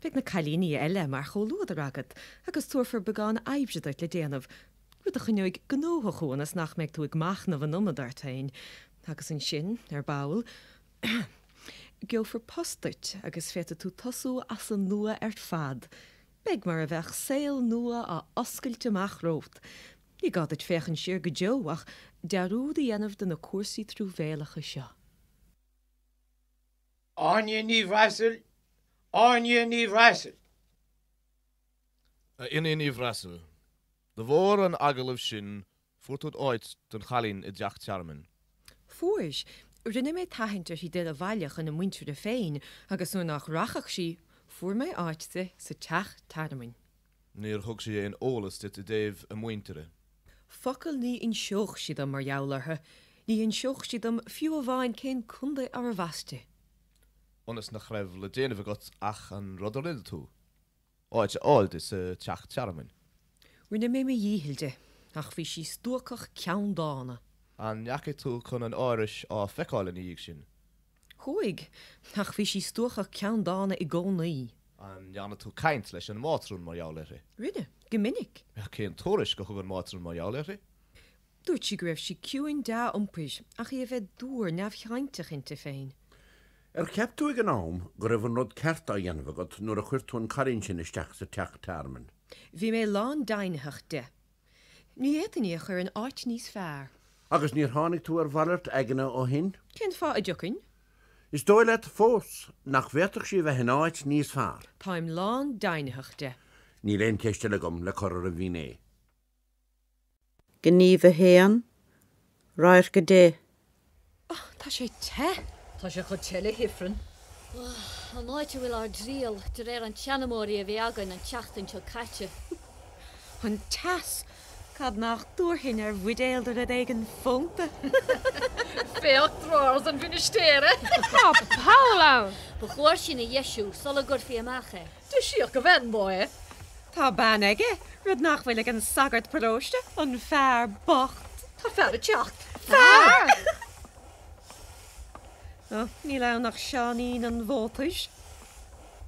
Beidh na cailíní eile mar chomhluadar agat agus tabharfar beagán oibre duit le déanamh, rud a choinneoidh gnóthach thú ionas nach mbeidh tú ag machnamh an iomad ort féin. Agus ansin, ar ball, gheofar post duit agus féadfaidh tú tosú as an nua ar fad. Beidh mar a bheadh saol nua á oscailt amach romhat. Ní gá duit féachaint siar go deo ach dearúd a dhéanamh ar na cúrsaí truamhéalacha seo. Áine Ní Bhreasail Áine Ní Bhreasail. A Iníon Ní Bhreasail, de bharr an agallaimh sin fuair tú d'áit don chailín i dTeach Tearmainn. Fuair. Rinne mé tathaint uirthi dul abhaile chun a muintire féin agus nuair nach rachadh sí, fuair mé áit di sa teach tearmainn. Níor thug sí aon eolas duit i dtaobh a muintire? Focal ní inseodh sí dom mar gheall orthu, ní inseodh sí dom fiú amháin cén contae arbh as di. Ionas nach raibh le déanamh agat ach an rud a rinne tú, áit a fháil di sa teach tearmainn. Rinne mé mo dhícheall di, ach bhí sí stuacach ceanndána. An ndeachaigh tú chun an árais á feiceáil ina dhiaidh sin? Chuaigh, ach bhí sí stuacach ceanndána i gcónaí. An ndearna tú caint leis an mátrún mar gheall uirthi? Rinne, go minic. Cén tuairisc a thug an mátrún mar gheall uirthi? Dúirt sí go raibh sí ciúin dea-iompair, ach í a bheith dúr neamhchainteach inti féin. Ar cheap tú ag an am go raibh an rud ceart á dhéanamh agat nuair a chuir tú an cailín sin isteach sa teach tearmainn? Bhí mé lándeimhnitheach de. Ní fhéadfainn í a chur in áit níos fearr. Agus níor tháinig tú ar mhalairt aigne ó shin? Cén fáth a dtiocfainn? Is dóigh leat fós nach bhféadfadh sí a bheith in áit níos fearr? Táim lándeimhnitheach de. Níl aon cheist eile agam le cur ar an bhfinné. Gníomh 1, Radharc 10. Ach tá sé te. Tá sé chomh te le hIfreann. Ugh, an áit a bhfuil ár dtriall, de réir an tseanmóirí a bhí againn an tseachtain seo caite. An teas! Cad nach dtabharfainn ar bhuidéal de rud éigin fónta! Féach drawers an mhinistéara! Tá poll ann! Ba chóir sin a dheisiú sula gcuirfí amach é. Deisíodh a bhean dó é. Tá bean aige, rud nach bhfuil ag an sagart paróiste, an fear bocht. Tá fear ag teacht. Fear! Ó, níl ann ach Seáinín an Mhótair.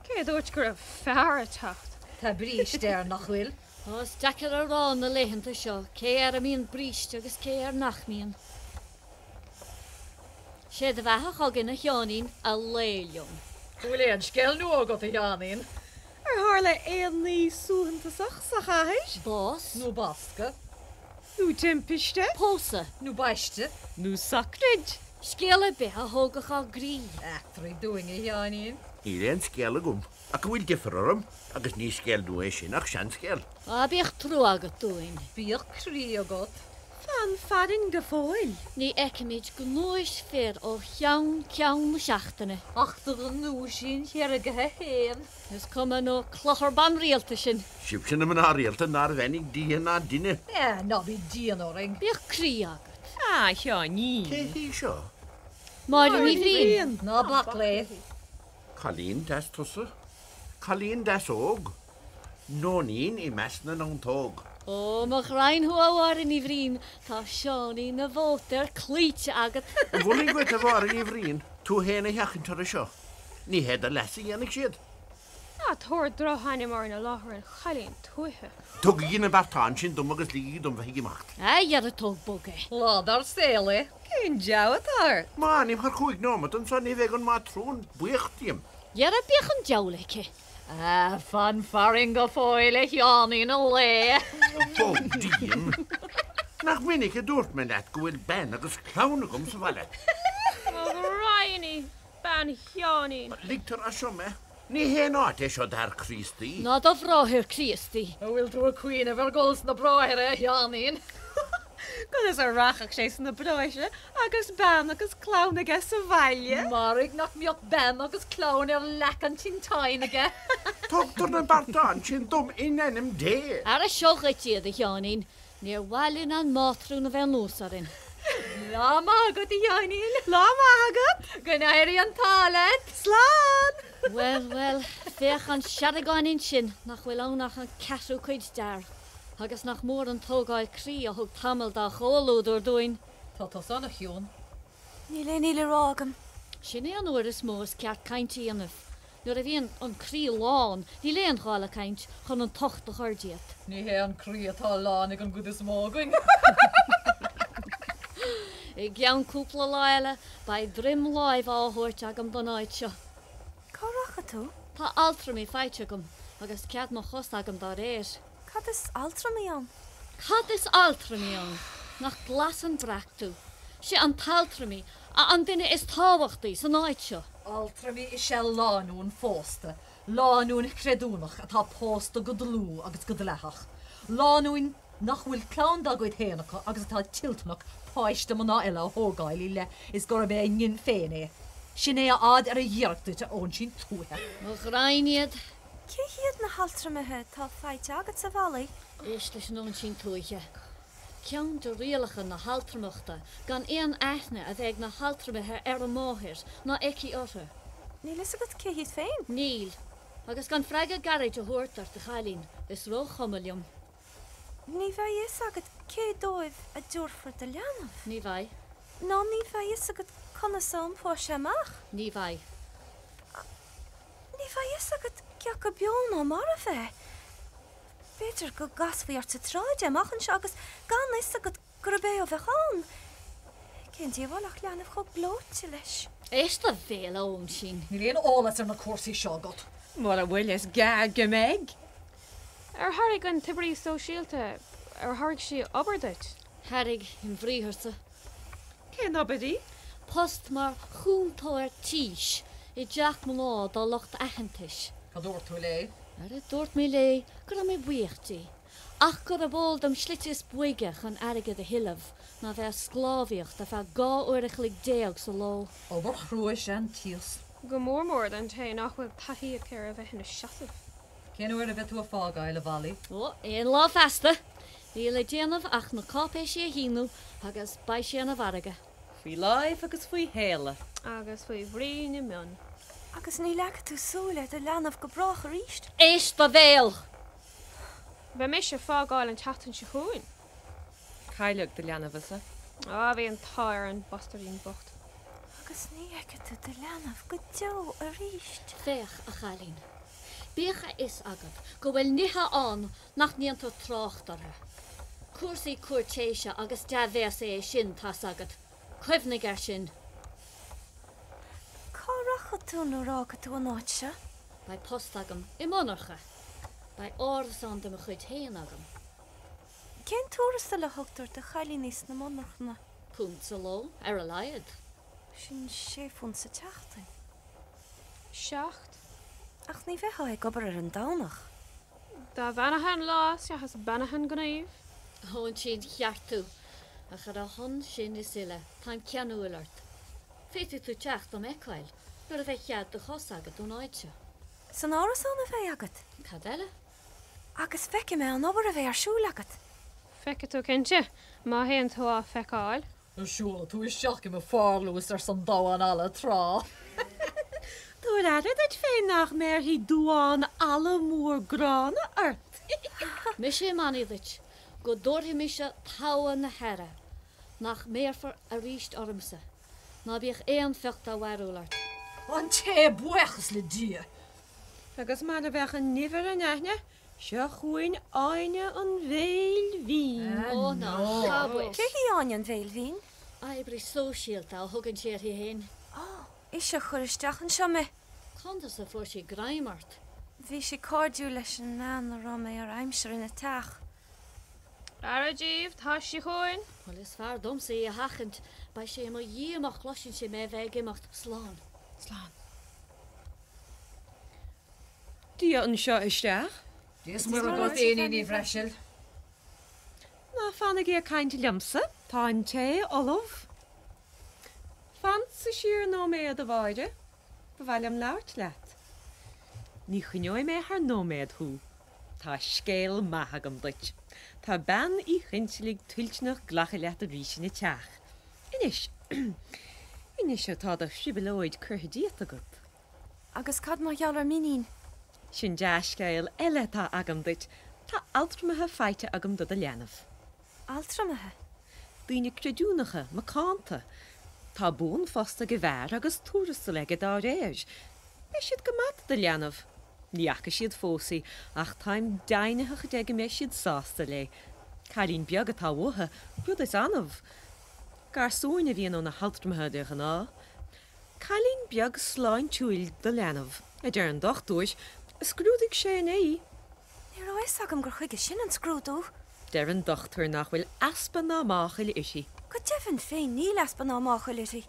Cé a dúirt go raibh fear ag teacht? Tá bríste air, nach bhfuil? Tá, is deacair a rá na laethanta seo cé air a mbíonn bríste agus cé air nach mbíonn. Sé do bheatha chugainn a Sheáinín, a lao liom. An bhfuil aon scéal nua agat a Sheáinín? Ar tharla aon ní suaitheantasach sa chathair? Bás. Nó bascadh. Nó timpiste. Pósadh. Nó baiste. Nó socraid. Scéal ar bith a thógfadh ár gcroí. Eachtraigh dúinn a Sheáinín. Níl aon scéal agam. Ach go bhfuil deifir orm, agus ní scéal nua é sin ach seanscéal. Á, bíodh trua agat dúinn. Bíodh croí agat, fan farainn go fóill. Ní fheicimid gnúis fir ó cheann ceann na seachtaine. Ach do ghnúisín sheargtha fhéin. Is cuma nó clochar banrialta sinn. Sibhse na mná rialta nár bheannaigh Dia ná duine. Á, ná bí dian orainn. Bíodh croí agat. A Sheáinín. Cé hí seo? Máire Ní Bhriain. Ná bac léi. Cailín deas tusa, cailín deas óg, nóinín i measc na neontóg. Ó, mo ghraidhin thú a Mháire Ní Bhriain, tá Seáinín an Mhótair cloíte agat. Mholfainn duit a Mháire Ní Bhriain tú fhéin a sheachaint orthu seo. Ní hé do leas a dhéanfaidh siad. Ná tabhair drochainm orainn i láthair an chailín tuaithe. Tugaigí na beartáin sin dom agus ligigí dom bheith ag imeacht. A dhera tóg bog é. Lá dár saol é. Cén deabhadh atá ort? Má fhanaim thar chúig nóimeat anseo ní bheidh an mátrún buíoch díom. Dhera bíodh an diabhal aici. Fan farainn go fóill a Sheáinín a lao. Bog díom. Nach minic a dúirt mé leat go bhfuil bean agus clann agam sa bhaile. Mo ghraidhin! bean Sheáinín. Ligtear as seo mé. Ní haon áit é seo d'fhear Críostaí. Ná do bhráthair Críostaí. An bhfuil tú ag cuimhneamh ar dhul sna bráithre, a Sheáinín? Conas a rachadh sé sna bráithre agus bean agus clann aige sa bhaile? Mairg nach mbeadh bean agus clann ar leac an tinteáin aige. Tugtar na bearta ansin dom in ainm Dé. Ara seo dhuit iad, a Sheáinín. Níor mhaith linn an mátrún a bheith anuas orainn. Lá maith agat, a Sheáinín. Lá maith agat. Go n-éirí an t-ádh leat. Slán! Bhuel, bhuel, féach an seadagáinín sin, nach bhfuil ann ach an ceathrú cuid d'fhear, agus nach mór an tógáil croí a thug tamall dá chomhluadar dúinn. Tá tusa ana chiúin. Níl aon ní le rá agam. Sin é an uair is mó is ceart caint a dhéanamh. Nuair a bhíonn an croí lán, níl aon ghá le caint chun an tocht a chur díot. Ní hé an croí atá lán ag an gcuid is mó againn. I gceann cúpla lá eile, beidh droim láimhe á thabhairt agam don áit seo. Cá rachaidh tú? Tá altramaí faighte agam, agus cead mo chos agam dá réir. Cad is altramaí ann? Cad is altramaí ann? Nach glas an breac tú? Sé an t-altramaí a an duine is tábhachtaí san áit seo. Altramaí is ea lánúin phósta, lánúin chreidiúnach atá pósta go dlúth agus go dleathach, lánúin nach bhfuil clann dá gcuid féin acu agus atá toilteanach páiste mná eile a thógáil i leith is gurb é a ngin féin é. Sin é a fhad ar a ghiorracht duit, a óinsín tuaithe. Mo ghraidhin iad, Cé hiad na haltramaithe atá faighte agatsa a Mhailí? Éist leis an óinsín tuaithe. Ceann de rialacha na haltramachta gan aon aithne a bheith ag na haltramaithe ar an máthair ná aici orthu. Níl a fhios agat cé hiad féin? Níl. Agus gan freagra gairid a thabhairt ort, a chailín, is róchuma liom. Ní bheidh fhios agat cé dóibh a dtabharfar do leanbh. Ní bheidh. Ná ní bheidh fhios agat conas a iompóidh sé amach. Ní bheidh. Ní bheidh fhios agat cé acu beo ná marbh é. B'fhéidir go gcasfaí ort sa tsráid é amach anseo agus gan fhios agat. Gurb é a bheadh ann. Cén díobháil ach leanbh chomh gleoite leis. Éist do bhéal a óinsín. Níl aon eolas ar na cúrsaí seo agat. Mura bhfuil is gearr go mbeidh. Ar thairg an t-oibrí sóisialta, ar thairg sí obair duit? Thairg ambriatharsa. Cén obair í? Post mar chúntóir tís i dteach mná dá lucht aitheantais. Cad a dúirt tú léi? Ara dúirt mé léi go raibh mé buíoch di. ach gurb eol dom slite is boige chun airgead a thuilleamh ná bheith ag sclábhaíocht ar feadh dhá uair a chloig déag sa ló. Obair chrua is ea an tíos. go mór mór don té nach bhfuil taithí aici ar a bheith ina seasamh. Cén uair a bheidh tú ag fágáil, a Mhailí? Ó, aon lá feasta. Níl le déanamh ach na cáipéisí a shíniú agus beidh sé ina mhargadh. Faoi láimh agus faoi shéala. Agus faoi bhrí na mionn. Agus ní leagfaidh tú súil ar do leanbh go brách arís. Éist do bhéal! Beidh mise ag fágáil an tseachtain seo chugainn. Cailleadh do leanbhsa? Ó, bhí an t-ádh ar an bastairdín bocht. Agus ní fheicfidh tú do leanbh go deo arís. Féach, a chailín, bíodh a fhios agat go bhfuil nithe ann nach ndéantar trácht orthu. Cúrsaí cúirtéise agus dea-bhéasa é sin, tá's agat. Cuimhnigh air sin. Cá rachaidh tú nuair a fhágfaidh tú an áit seo? Beidh post agam i monarcha. Beidh árasán de mo chuid féin agam. Cén tuarastal a thugtar do chailíní sna monarchana? Punt sa ló, ar a laghad. Sin sé phunt sa tseachtain. Seacht. Ach ní bheifeá ag obair ar an Domhnach. Dá bheannaithe an lá is ea is beannaithe an gníomh. Óinsín cheart tú. Ach ar a shon sin is uile, táim ceanúil ort. Féadfaidh tú teacht dom fheiceáil nuair a bheidh cead do chos agat ón áit seo. San árasán a bheidh agat? Cad eile? Agus feicfidh mé an obair a bheidh ar siúl agat. Feicfidh tú cinnte, má théann tú á feiceáil. An siúlfaidh tú isteach i mo pharlús arsa an damhán alla tráth? Tabhair aire duit féin nach mbéarfaidh duán alla mór gránna ort. Mise i mbannaí duit. Go dtabharfaidh mise togha na haire nach mbéarfar aríst ormsa. Ná bíodh aon phioc dá mhearbhall ort. An tae, buíochas le Dia. Agus mar a bheadh an nimh ar an aithne, seo chugainn Áine an Bhéil Bhinn. Ó, ná habair! Cé hí Áine an Bhéil Bhinn? Oibrí sóisialta a thugann sí uirthi fhéin. Ó! Ise a chuir isteach anseo mé. Conas a fuair sí greim ort? Bhí sí cairdiúil leis an mbean a raibh mé ar aimsir ina teach. Aire daoibh, tá sí chugainn! Bhuel, is fearr domsa í a sheachaint. Beidh sí i mo dhiaidh má chloiseann sí mé a bheith ag imeacht. Slán. Slán. Dia anseo isteach. Dia is Muire dhuit, a Iníon Ní Bhreasail. Ná fanaigí ag caint liomsa. Tá an tae ullamh. Fansa siar nóiméad, a Mháire. Ba mhaith liom labhairt leat. Ní choinneoidh mé thar nóiméad thú. Tá scéal maith agam duit. Tá Bean Uí Chinsealaigh toilteanach glacadh leat arís ina teach. Anois. Anois atá do thrioblóid curtha díot agat. Agus cad mar gheall ar m'iníon? Sin dea-scéal eile atá agam duit. Tá altramaithe faighte agam do do leanbh. altramaithe, daoine creidiúnacha, macánta, tá buanphost ag an bhfear agus tuarastal aige dá réir. Beidh siad go maith do leanbh. Ní fhaca siad fós í, ach táim deimhnitheach de go mbeidh siad sásta léi. Cailín beag atá uathu, rud is annamh. Garsúin a bhíonn ó na haltramaithe de ghnáth. Cailín beag sláintiúil do leanbh, a deir an dochtúir, a scrúdaigh sé inné í. Ní raibh a fhios agam gur chuige sin an scrúdú! Deir an dochtúir nach bhfuil easpa ná máchail uirthi. Go deimhin féin níl easpa ná máchail uirthi.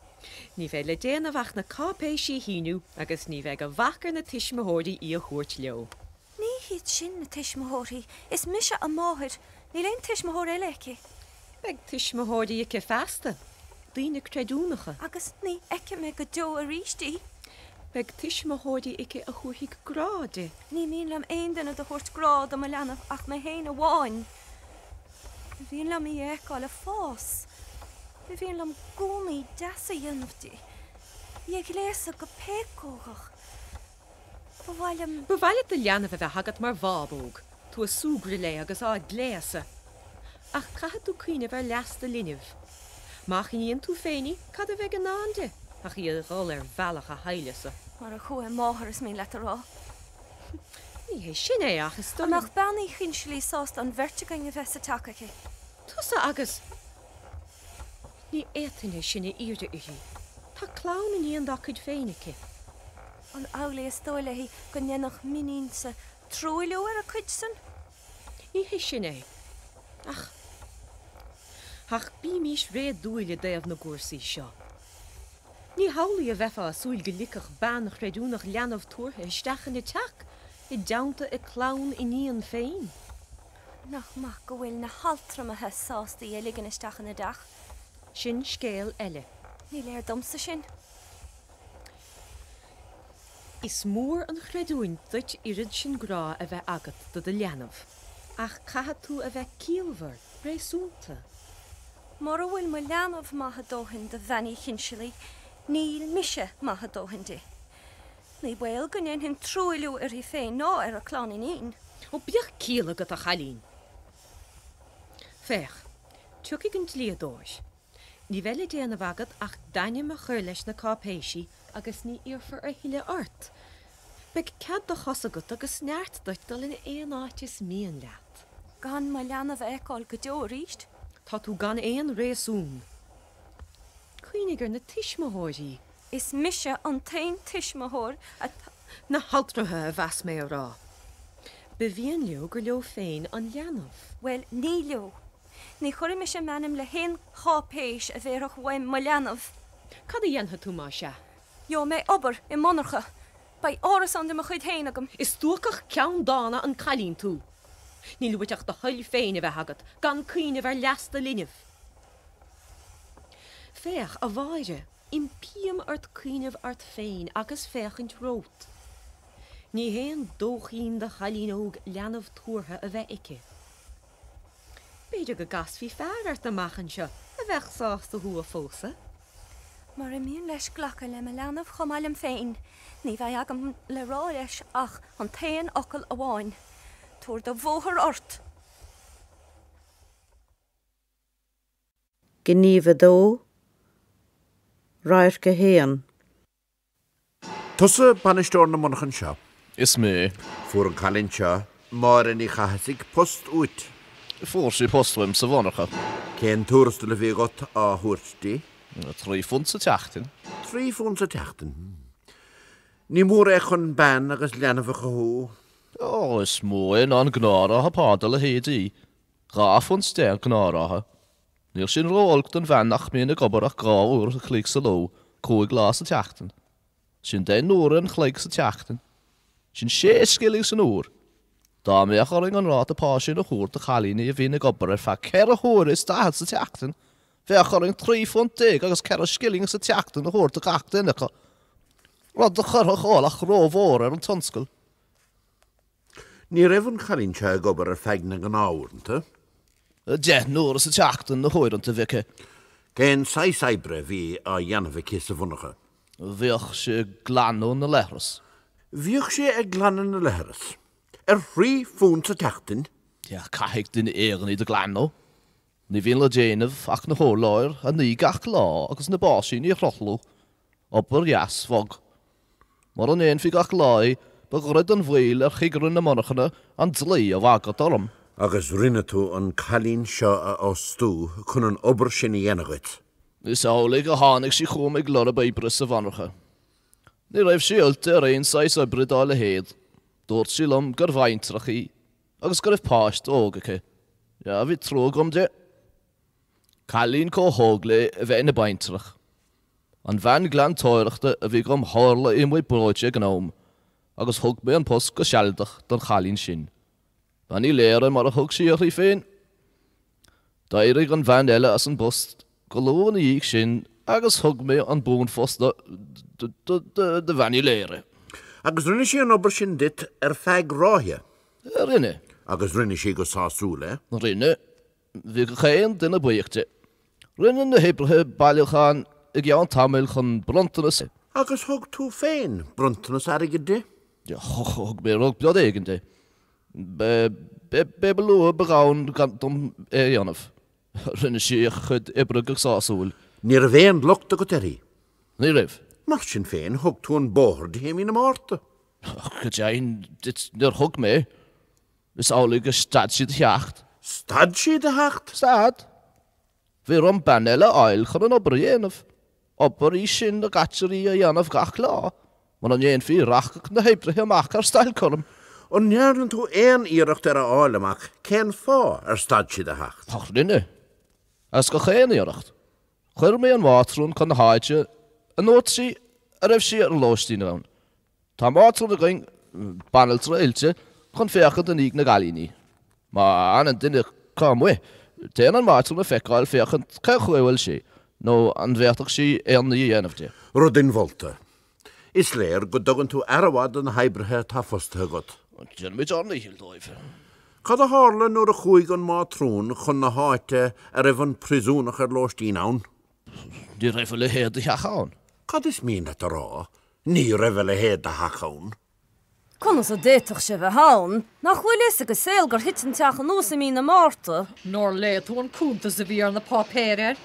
Ní bheidh le déanamh ach na cáipéisí a shíniú agus ní bheidh a bhac ar na tuismitheoirí í a thabhairt leo. Ní hiad sin na tuismitheoirí. Is mise a máthair. Níl aon tuismitheoir eile aici. Beidh tuismitheoirí aici feasta, daoine creidiúnacha. Agus ní fheicfidh mé go deo aríst í. Beidh tuismitheoirí aici a thabharfaidh grá di. Ní mian liom aon duine do thabhairt grá do mo leanbh ach mé fhéin amháin. Ba mhian liom í a fheiceáil ag fás. Ba mhian liom gúnaí deasa a dhéanamh di. Í a ghléasadh go péacógach. Ba mhaith leat do leanbh a bheith agat mar bhábóg, tú ag súgradh léi agus á gléasadh. Ach caithfidh tú cuimhneamh ar leas do linbh. Má choinníonn tú féin í, cad a bheidh i ndán di ach í a dhul ar bhealach a haimhleasa? Mar a chuaigh a máthair, is mian leat a rá. Ní hé sin é, ach. Is dóigh nach mbeadh Bean Uí Chinsealaigh sásta an bheirt againn a bheith sa teach aici? Tusa agus. Ní fhéadfainn é sin a iarraidh uirthi. Tá clann iníon dá cuid féin aici. An amhlaidh is dóigh léi go ndéanfadh m'iníonsa truailliú ar a cuid san? Ní hé sin é. Ach. ach bímís réadúil i dtaobh na gcúrsaí seo. Ní hamhlaidh a bheifeá ag súil go ligfeadh bean chreidiúnach leanbh tabhartha isteach ina teach i dteannta a clann iníon féin. Nach maith go bhfuil na haltramaithe sásta í a ligean isteach ina dteach. Sin scéal eile. Ní léir domsa sin. Is mór an chreidiúint duit oiread sin grá a bheith agat do do leanbh, ach caithfidh tú a bheith ciallmhar, réasúnta. Mura bhfuil mo leanbh maith a dóthain do Bhean Uí Chinsealaigh, níl mise maith a dóthain di. Ní baol go ndéanfainn truailliú uirthi féin ná ar a clann iníon. Ó, bíodh ciall agat, a chailín. Féach, tiocfaidh an dlíodóir. Ní bheidh le déanamh agat ach d'ainm a chur leis na cáipéisí agus ní iarrfar a thuilleadh ort. Beidh cead do chos agat agus neart duit dul in aon áit is mian leat. Gan mo leanbh a fheiceáil go deo arís? Tá tú gan aon réasún. Cuimhnigh ar na tuismitheoirí. Is mise an t-aon tuismitheoir atá. Na haltraithe a mheas mé a rá. Ba mhian leo gur leo féin an leanbh. Bhuel, ní leo. Ní chuirfidh mise m'ainm le haon cháipéis a bhéarfadh uaim mo leanbh. Cad a dhéanfaidh tú más ea? Gheobhaidh mé obair i monarcha. Beidh árasán de mo chuid féin agam. Is stuacach ceanndána an cailín tú. Níl uait ach do thoil féin a bheith agat, gan cuimhneamh ar leas do linbh. Féach, a Mháire, impím ort cuimhneamh ort féin agus féachaint romhat. Ní haon dóichín do chailín óg leanbh tabhartha a bheith aici. B'fhéidir go gcasfaí fear ort amach anseo a bheadh sásta thú a phósadh. Mura mian leis glacadh le mo leanbh chomh maith liom féin, ní bheidh agam le rá leis ach an t-aon fhocal amháin, tabhair do bhóthar ort! Gníomh 2, Radharc 1. Tusa bainisteoir na monarchan seo? Is mé. Fuair an cailín seo, Máire Ní Chathasaigh, post uait? Fuair sí post uaim sa mhonarcha. Cén tuarastal a bhí agat á thabhairt di? Trí phunt sa tseachtain. Trí phunt sa tseachtain, hm. Ní mór é chun bean agus leanbh a chothú. Ó, is mó é ná an gnáthráta pá dá leithéidí Dhá phunt deich an gnáthráta. Níl sin ró-olc don bhean nach mbíonn ag obair ach dhá uair an chloig sa ló, cúig lá sa tseachtain. Sin deich n-uaire an chloig sa tseachtain. Sin sé scilling san uair! Dá mbeadh orainn an ráta pá sin a thabhairt do chailíní a bhíonn ag obair ar feadh ceithre huaire is daichead sa tseachtain, bheadh orainn trí phunt déag agus ceithre scilling sa tseachtain a thabhairt do gach duine acu, rud a chuirfeadh ualach rómhór ar an tionscal. Ní raibh an cailín seo ag obair ar feadh na gnáth-uaireanta. Deich n-uaire sa tseachtain na huaireanta a bhí aici. Cén saghas oibre a bhí á dhéanamh aici sa mhonarcha? Bhíodh sí ag glanadh na leithreas. Bhíodh sí ag glanadh na leithreas. Ar thrí phunt sa tseachtain? Á, caithfidh duine éigin iad a ghlanadh. Ní bhíonn le déanamh ach na hurláir a ní gach lá agus na báisíní a shruthlú. Obair dheas bhog. Mura ndéanfaí gach lá é, ba ghairid an mhoill ar chigire na monarchana an dlí a bhagairt orm. Agus rinne tú an cailín seo a fhostú chun an obair sin a dhéanamh dhuit? Is amhlaidh a tháinig sí chugam ag lorg oibre sa mhonarcha. Ní raibh sí oilte ar aon saghas oibre dá leithéid. Dúirt sí liom gur bhaintreach í. agus go raibh páiste óg aici. Yeah, bhí trua agam di. Cailín chomh hóg léi a bheith ina baintreach. An bhean ghlantóireachta a bhí agam tharla í amuigh breoite ag an am agus thug mé an post go sealadach don chailín sin. Bean Uí Laoire mar a thug sí uirthi féin. D'éirigh an bhean eile as an bpost go luath ina dhiaidh sin agus thug mé an buanphost do Bhean Uí Laoire. Agus rinne sí an obair sin duit ar feadh ráithe? Rinne. Agus rinne sí go sásúil é? Rinne. Bhí gach aon duine buíoch di. Rinne na hoibrithe bailiúchán i gceann tamaill chun bronntanas a. Agus thug tú féin bronntanas airgid di? Thug mé rud beag éigin di. B'é ba lú ba ghann gann dom é a dhéanamh. Rinne sí a cuid oibre go sásúil. Ní raibh aon locht agat uirthi? Ní raibh. Mar sin féin, thug tú an bóthar di i Mí na Márta. Go deimhin, níor thug mé. Is amhlaidh gur stad sí de theacht. Stad sí de theacht? Stad. Bhí orm bean eile a fháil chun an obair a dhéanamh. Obair í sin a gcaitear í a dhéanamh gach lá. Mura ndéanfaí í rachadh na hoibrithe amach ar stailc orm. An ndearna tú aon iarracht ar a fháil amach cén fáth ar stad sí de theacht? Ach rinne. Agus gach aon iarracht, chuir mé an mhátrún chun na háite a ndúirt sí a raibh sí ar lóistín ann. Tá mátrún againn, banaltra oilte, chun féachaint i ndiaidh na gcailíní. Má fhanann duine acu amuigh, téann an mátrún á feiceáil féachaint cén chaoi a bhfuil sí, nó an bhféadfadh sí aon ní a dhéanamh di. Rud inmholta. Is léir go dtugann tú aire mhaith do na hoibrithe atá fostaithe agat. Déanaimid ár ndícheall dóibh. Cad a tharla nuair a chuaigh an Mátrún chun na háite a raibh an priosúnach ar lóistín ann? Ní raibh a leithéid de theach ann. Cad is mian leat a rá, ní raibh a leithéid de theach ann? Conas a d'fhéadfadh sé bheith ann? Nach bhfuil fhios ag an saol gur thit an teach anuas i mí na Márta? Nár léigh tú an cuntas a bhí ar na páipéir air?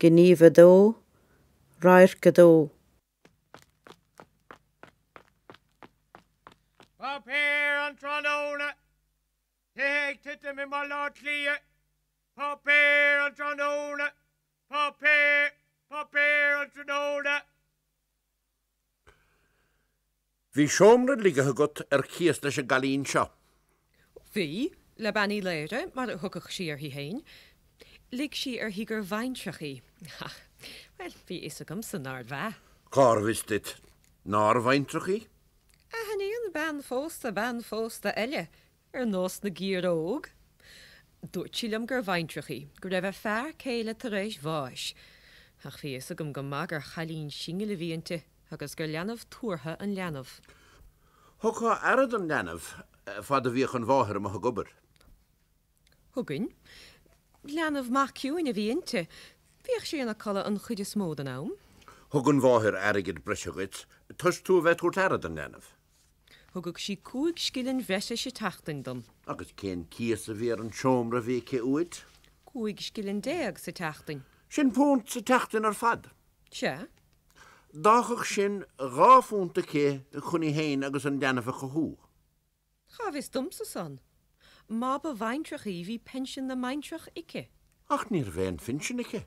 Gníomh 2, Radharc 2. Páipéir an tráthnóna! Tithe ag titim i mBaile Átha Cliath. Páipéar an tráthnóna. Páipéar. Páipéar an tráthnóna. Bhí seomra ligthe agat ar cíos leis an gcailín seo? Bhí, le Bean Uí Laoire, mar a thugadh sí uirthi féin. Lig sí uirthi gur bhaintreach í. Ach, bhuel, bhí a fhios agamsa nárbh ea. Cárbh fhios duit nár bhaintreach í? Aithníonn bean phósta bean phósta eile, Ar nós na gciaróg, dúirt sí liom gur bhaintreach í, go raibh a fear céile tar éis bháis, ach bhí a fhios agam go maith gur chailín singil a bhí inti agus gur leanbh tabhartha an leanbh. Thugtá aire don leanbh fad a bhíodh an mháthair amuigh ag obair. thugainn. Leanbh maith ciúin a bhí inti. Bhíodh sí ina codladh an chuid is mó den am. Thug an mháthair airgead breise dhuit toisc tú a bheith ag tabhairt aire don leanbh. Thugadh sí cúig scilling bhreise sa tseachtain dom. Agus cén cíos a bhí ar an seomra a bhí aici uait? Cúig scilling déag sa tseachtain. Sin punt sa tseachtain ar fad. Sea. D'fhágfadh sin dhá phunt aici chun í féin agus an leanbh a chothú. Cá bhfios domsa san? Má ba bhaintreach í, bhí pinsean na mbaintreach aici. Ach ní raibh aon phinsean aici.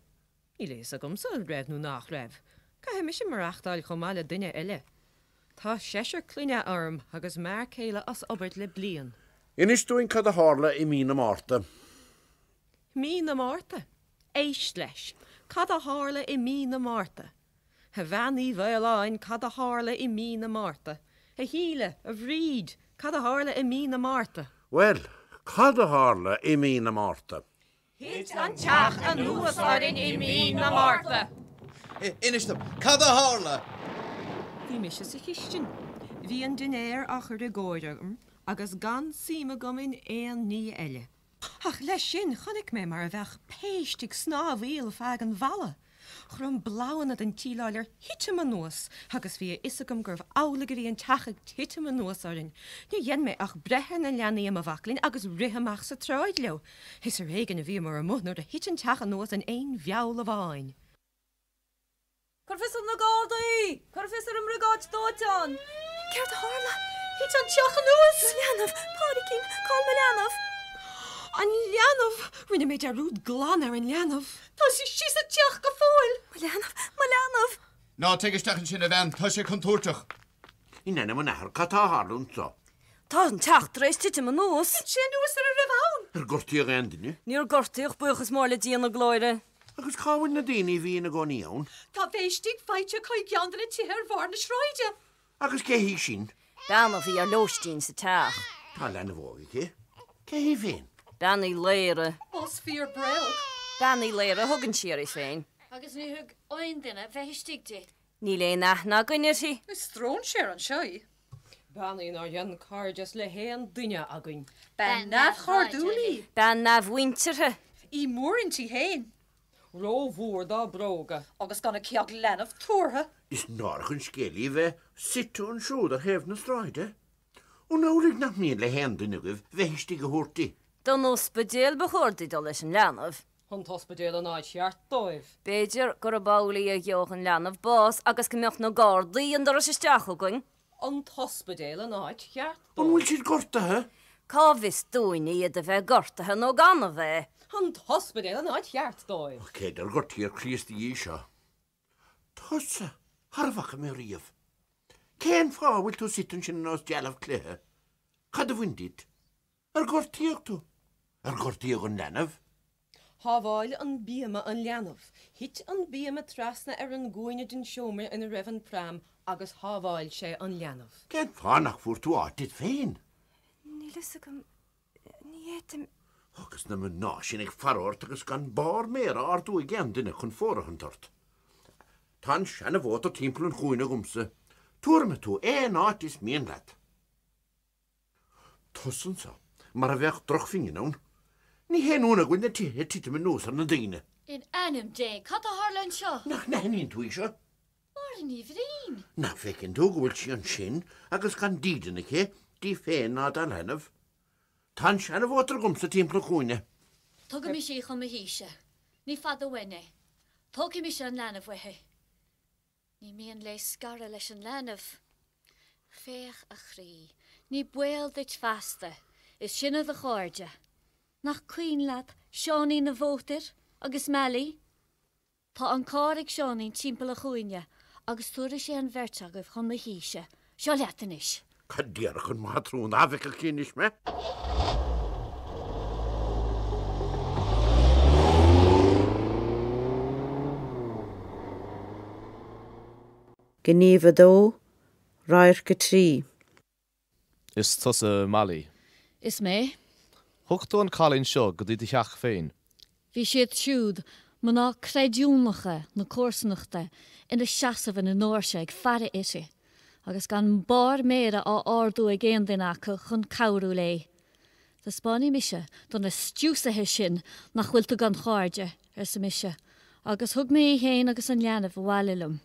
Níl a fhios agamsa an raibh nó nach raibh. Caithfidh mise maireachtáil chomh maith le duine eile. Tá seisear clainne orm agus m'fhear céile as obair le bliain. Inis dúinn cad a tharla i Mí na Márta. Mí na Márta? Éist leis! Cad a tharla i Mí na Márta? A Bhean Uí Mhaoláin, cad a tharla i Mí na Márta? A Shíle, a Bhríd, cad a tharla i Mí na Márta? Bhuel, cad a tharla i Mí na Márta? Thit an teach anuas orainn i mí na Márta. Inis dom, cad a tharla? Bhí mise sa chistin. Bhí an dinnéar á chur i gcóir agam agus gan suim agam in aon ní eile. Ach leis sin, chonaic mé mar a bheadh péist ag snámhaíl feadh an bhalla. Chrom bloghanna den tsíleáil ar thitim anuas agus bhí a fhios agam gurbh amhlaidh a bhí an teach ag titim anuas orainn. Níor dhein mé ach breith ar na leanaí i mo bhaclainn agus rith amach sa tsráid leo. Is ar éigin a bhíomar amuigh nuair a thit an teach anuas in aon mheall amháin. Cuir fios ar na Gardaí! Cuir fios ar an mBriogáid Dóiteáin! Céard a tharla? Thit an teach anuas! Mo leanbh! Pádraigín! Cá'il mo leanbh? An leanbh! Rinne mé dearúd glan ar an leanbh. Tá sí istigh sa teach go fóill. Mo leanbh! Mo leanbh! Ná téigh isteach ansin, a bhean, tá sé contúirteach. In ainm an Athar, cad a tharla anseo? Tá an teach tar éis titim anuas. Thit sé anuas ar a raibh ann. Ar gortaíodh aon duine? Níor gortaíodh, buíochas mór le Dia na Glóire. Agus cá bhfuil na daoine a bhí ina gcónaí ann? Tá bheith istigh faighte acu i gceann de na tithe ar bharr na sráide. Agus cé hí sin? Bean a bhí ar lóistín sa teach. Tá leanbh óg aici. Cé hí féin? Bean Uí Laoire. Más fíor bréag. Bean Uí Laoire a thugann sí uirthi féin. Agus ní thug aon duine bheith istigh di. Níl aon aithne againn uirthi. Is stróinséar anseo í. Bean í nár dhein cairdeas le haon duine againn. Bean neamhchairdiúil í. Bean neamh-mhuinteartha. Í mór inti féin. Rómhór dá bróga. Agus gan aici ach leanbh tabhartha. Is náireach an scéal í bheith suite ansiúd ar thaobh na sráide. An amhlaidh nach mian le haon duine agaibh bheith istigh a thabhairt di? Don ospidéal ba chóir di dul leis an leanbh. An t-ospidéal an áit cheart dóibh. B'fhéidir gurb amhlaidh a gheobhadh an leanbh bás agus go mbeadh na Gardaí an doras isteach chugainn. an t-ospidéal an áit cheart dóibh. An bhfuil siad gortaithe? Cá bhfios dúinn iad a bheith gortaithe nó gan a bheith? an t-ospidéal an áit cheart dóibh. Ach cé ar gortaíodh Críost cad é seo? Tusa! Thar a bhfaca mé riamh. Cén fáth a bhfuil tú suite ansin ar nós dealbh cloiche? Cad a bhain duit? Ar gortaíodh tú? Ar gortaíodh an leanbh? Shábháil an bíoma an leanbh. Thit an bíoma trasna ar an gcúinne den seomra ina raibh an pram agus shábháil sé an leanbh. Cén fáth nach bhfuair tú áit duit féin? Níl fhios agam. Ní fhéadaim. Agus na mná sin ag faire ort agus gan barr méar a ardú ag aon duine chun fóirithint ort. Tá an seana-mhótar timpeall an chúinne agamsa. Tabharfaidh mé tú aon áit is mian leat. Tusa anseo mar a bheadh drochphingin ann. Ní haon ionadh go bhfuil na tithe ag titim anuas ar na daoine. In ainm Dé, cad a tharla anseo? Nach n-aithníonn tú í seo? Máire Ní Bhriain! Nach bhfeiceann tú go bhfuil sí ansin agus gan dídean aici di féin ná dá leanbh? Tá an seanamhótar agamsa timpeall an chúinne. Tugaimis í chun mo thíse. Ní fada uainn é. Tógfaidh mise an leanbh uaithi. Ní mian léi scaradh leis an leanbh. Féach, a chroí, ní baol duit feasta, is sinne do chairde. Nach cuimhin leat Seáinín an Mhótair agus Mailí? Tá an carr ag Seáinín timpeall an chúinne agus tabharfaidh sé an bheirt agaibh chun mo thíse Seo leat anois. Cad déarfadh an mátrún dá bhfeicfeadh sí anois mé? Gníomh 2, Radharc 3. Is tusa Mailí. Is mé. Thug tú an cailín seo go dtí do theach féin. Bhí siad siúd, mná creidiúnacha na comharsanachta, ina seasamh ina ndóirse ag faire uirthi, agus gan barr méire á ardú ag aon duine acu chun cabhrú léi. Taispeánfaidh mise do na stiúsaithe sin nach bhfuil tú gan chairde, arsa mise, agus thug mé í féin agus an leanbh abhaile liom.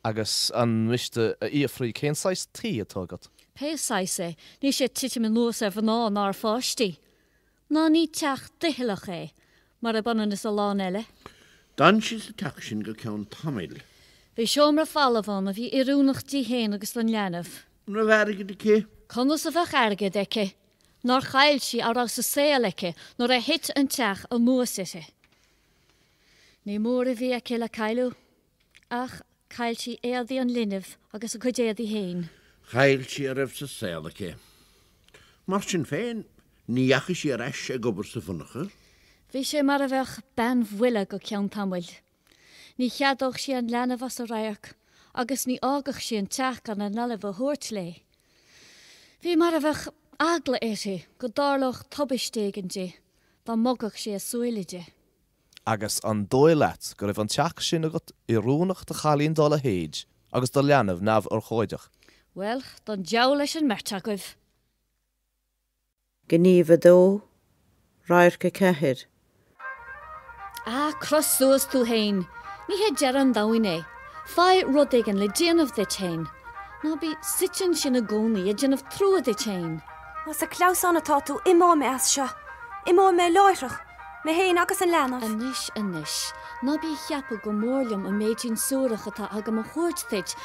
Agus an miste a fhiafraí cén saghas tí atá agat? Pé saghas é, níl sé ag titim anuas ar mhná ná ar pháistí. Ná ní teach doicheallach é, mar ab ionann is a lán eile. D'fhan sí sa teach sin go ceann tamaill. Bhí seomra falamh ann a bhí oiriúnach di féin agus don leanbh. An raibh airgead aici? Conas a bheadh airgead aici? Nár chaill sí a raibh sa saol aici nuair a thit an teach anuas uirthi? Ní mór a bhí aici le cailleadh. Ach chaill sí éadaí an linbh agus a cuid éadaí féin. Chaill sí a raibh sa saol aici. Mar sin féin, ní dheachaigh sí ar ais ag obair sa mhonarcha. Bhí sí mar a bheadh bean bhuile go ceann tamaill. Ní cheadódh sí an leanbh as a radharc agus ní fhágfadh sí an teach gan an leanbh a thabhairt léi. Bhí mar a bheadh eagla uirthi go dtarlódh tubaiste éigin di dá mbogfadh sí a súile di. Agus an dóigh leat go raibh an teach sin agat oiriúnach do chailín dá leithéid agus do leanbh neamhurchóideach? Bhuel, don deabhal leis an mbeirt agaibh! Gníomh 2, Radharc 4. Ah, croith suas tú féin! Ní hé deireadh an domhain é. Faigh rud éigin le déanamh duit féin. Ná bí suite ansin i gcónaí ag déanamh trua duit féin. Más ag clamhsán atá tú, imeoidh mé as seo. Imeoidh mé láithreach, mé féin agus an leanbh. Anois, anois, ná bí ag ceapadh gur mór liom an méidín suarach atá agam a thabhairt duit,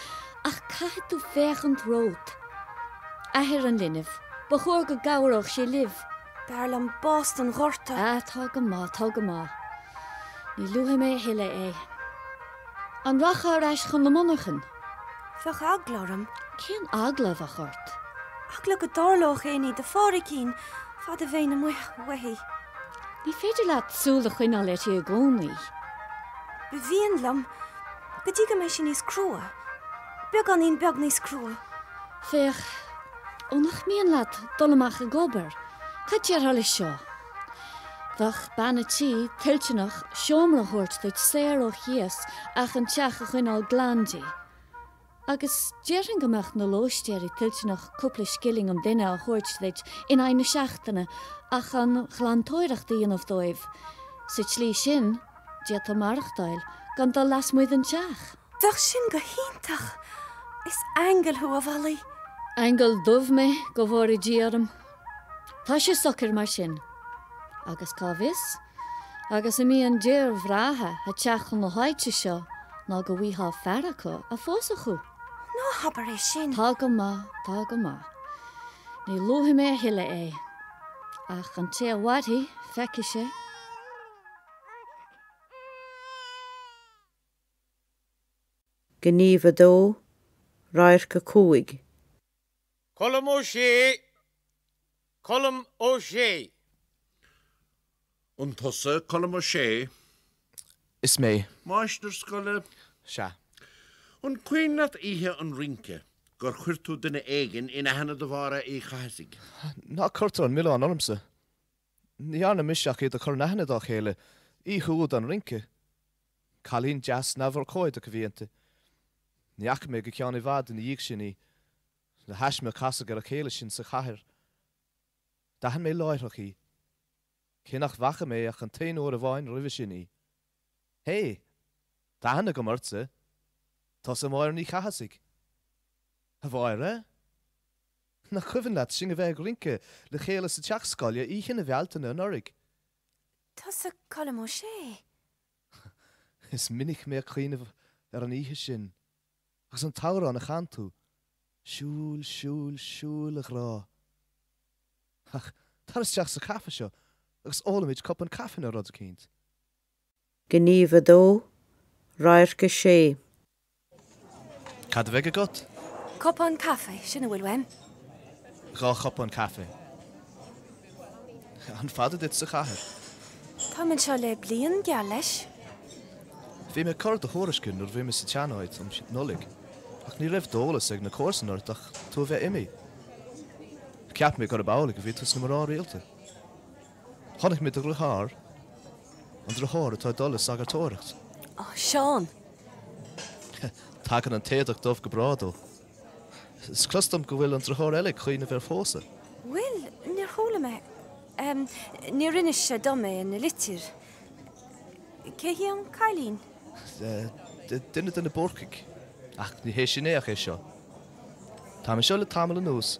ach caithfidh tú féachaint romhat. Athair an linbh, ba chóir go gcabhródh sé libh. B'fhearr liom bás don ghorta. Ah, tá go maith, tá go maith. Ní luafaidh mé a thuilleadh é. An rachfá ar ais chun na monarchan? Bheadh eagla orm. Cén eagla a bheadh ort? Eagla go dtarlódh aon ní do Phádraigín fad a bheinn amuigh uaithi. Ní féidir leat súil a choinneáil uirthi i gcónaí. Ba mhian liom, go dtí go mbeidh sí níos crua, beagáinín beag níos crua. Féach, ó nach mian leat dul amach ag obair, cad déarfá leis seo? Bheadh bean an tí toilteanach seomra a thabhairt duit saor ó chíos ach an teach a choinneáil glan di. Agus déarfainn go mbeadh na lóistéirí toilteanach cúpla scilling an duine a thabhairt duit in aghaidh na seachtaine ach an ghlantóireacht a dhéanamh dóibh. Sa tslí sin, d'fhéadfá maireachtáil gan dul lasmuigh den teach. Bheadh sin go hiontach! Is aingeal thú, a Mhailí! Aingeal dubh mé, go bhfóire Dia orm, Tá sé socair mar sin. Agus cá bhfios, agus a mbíonn d'fhir bhreátha ag teacht chun na háite seo ná go bhfaighfeá fear acu a phósfadh thú. Ná habair é sin! Tá go maith, tá go maith. Ní luafaidh mé a thuilleadh é. Ach an té a mhairfidh, feicfidh sé. Gníomh 2, Radharc 5, Colm Ó Sé Colm Ó Sé. An tusa Colm Ó Sé? Is mé. Máistir scoile? Sea. An cuimhin leat oíche an rince, gur chuir tú duine éigin in aithne do Mháire Uí Chathasaigh? Ná cuirtear an milleán ormsa. Ní dhearna mise ach iad a chur in aithne dá chéile, oíche úd an rince. Cailín deas neamhurchóideach a bhí inti. Ní fhaca mé go ceann i bhfad ina dhiaidh sin í. Le thaisme a casadh ar a chéile sinn sa chathair. D'aithin mé láithreach í, cé nach bhfaca mé ach an t-aon uair amháin roimhe sin í. 'Hé! Tá aithne agam ortsa! Tusa Máire Ní Chathasaigh! 'A Mháire? Nach cuimhin leat sinn a bheith ag rince le chéile sa teach scoile oíche na Bhealtaine anuraidh? Tusa Colm Ó Sé? Is minic mé ag cuimhneamh ar an oíche sin agus an t-amhrán a chan tú, Siúil, siúil, siúil a ghrá. Ach tar isteach sa caife seo agus ólfaimid cupán caife nó rud eicínt. Gníomh 2, Radharc 6. Cad a bheidh agat? Cupán caife, sin a bhfuil uaim. Dhá chupán caife. An fada duit sa chathair? Táim anseo le bliain, geall leis. Bhí mé ag cur do thuairisce nuair a bhí mé sa tsean-áit um Nollaig, ach ní raibh d'eolas ag na comharsain ort ach tú a bheith imithe. Cheap mé gurb amhlaidh a bhí tú sna mná rialta. Chonaic mé do dhriotháir, an driotháir atá ag dul le sagartóireacht. Ó, Seán! Tagann an t-éadach dubh go breá dó. Is clos dom go bhfuil an driotháir eile ag cuimhneamh ar phósadh. Bhuel, níor chuala mé. Níor inis sé dom é ina litir. Cé hí an cailín? Duine de na Búrcaigh. Ach ní hé sin é ach é seo. Táim anseo le tamall anuas.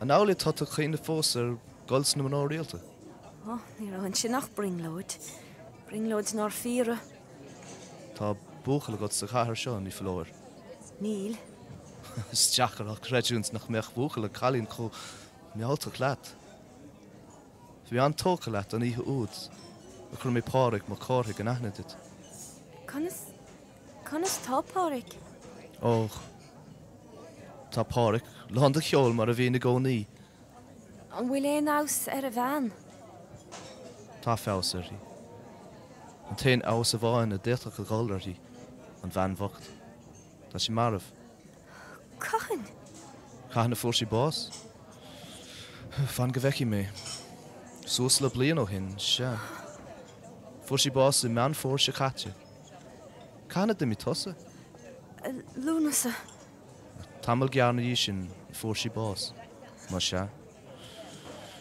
An amhlaidh atá tú ag cuimhneamh fós ar dhul sna mná rialta? Ó, ní raibh ansin ach brionglóid. Brionglóid nár fíoradh. Tá buachaill agat sa chathair seo, ní foláir. Níl. Is deacair a chreidiúint nach mbeadh buachaill ag cailín chomh mealltach leat. Bhí an-tógtha leat an oíche úd a chuir mé Pádraig Mac Cárthaigh in aithne duit. Conas? Conas tá Páraic? Ó, tá Páraic lán de cheol mar a bhíonn i gcónaí. An bhfuil aon fheabhas ar a bhean? Tá feabhas uirthi. An t-aon fheabhas amháin a d'fhéadfadh a dhul uirthi, an bhean bhocht. Tá sí marbh. Cathain? Cathain a fuair sí bás? Fan go bhfeicfidh mé. Suas le bliain ó shin, sea. Fuair sí bás i Meán Fómhair seo caite. Cathain a d'imigh tusa? Lúnasa. Tamall gearr ina dhiaidh sin a fuair sí bás. Más ea.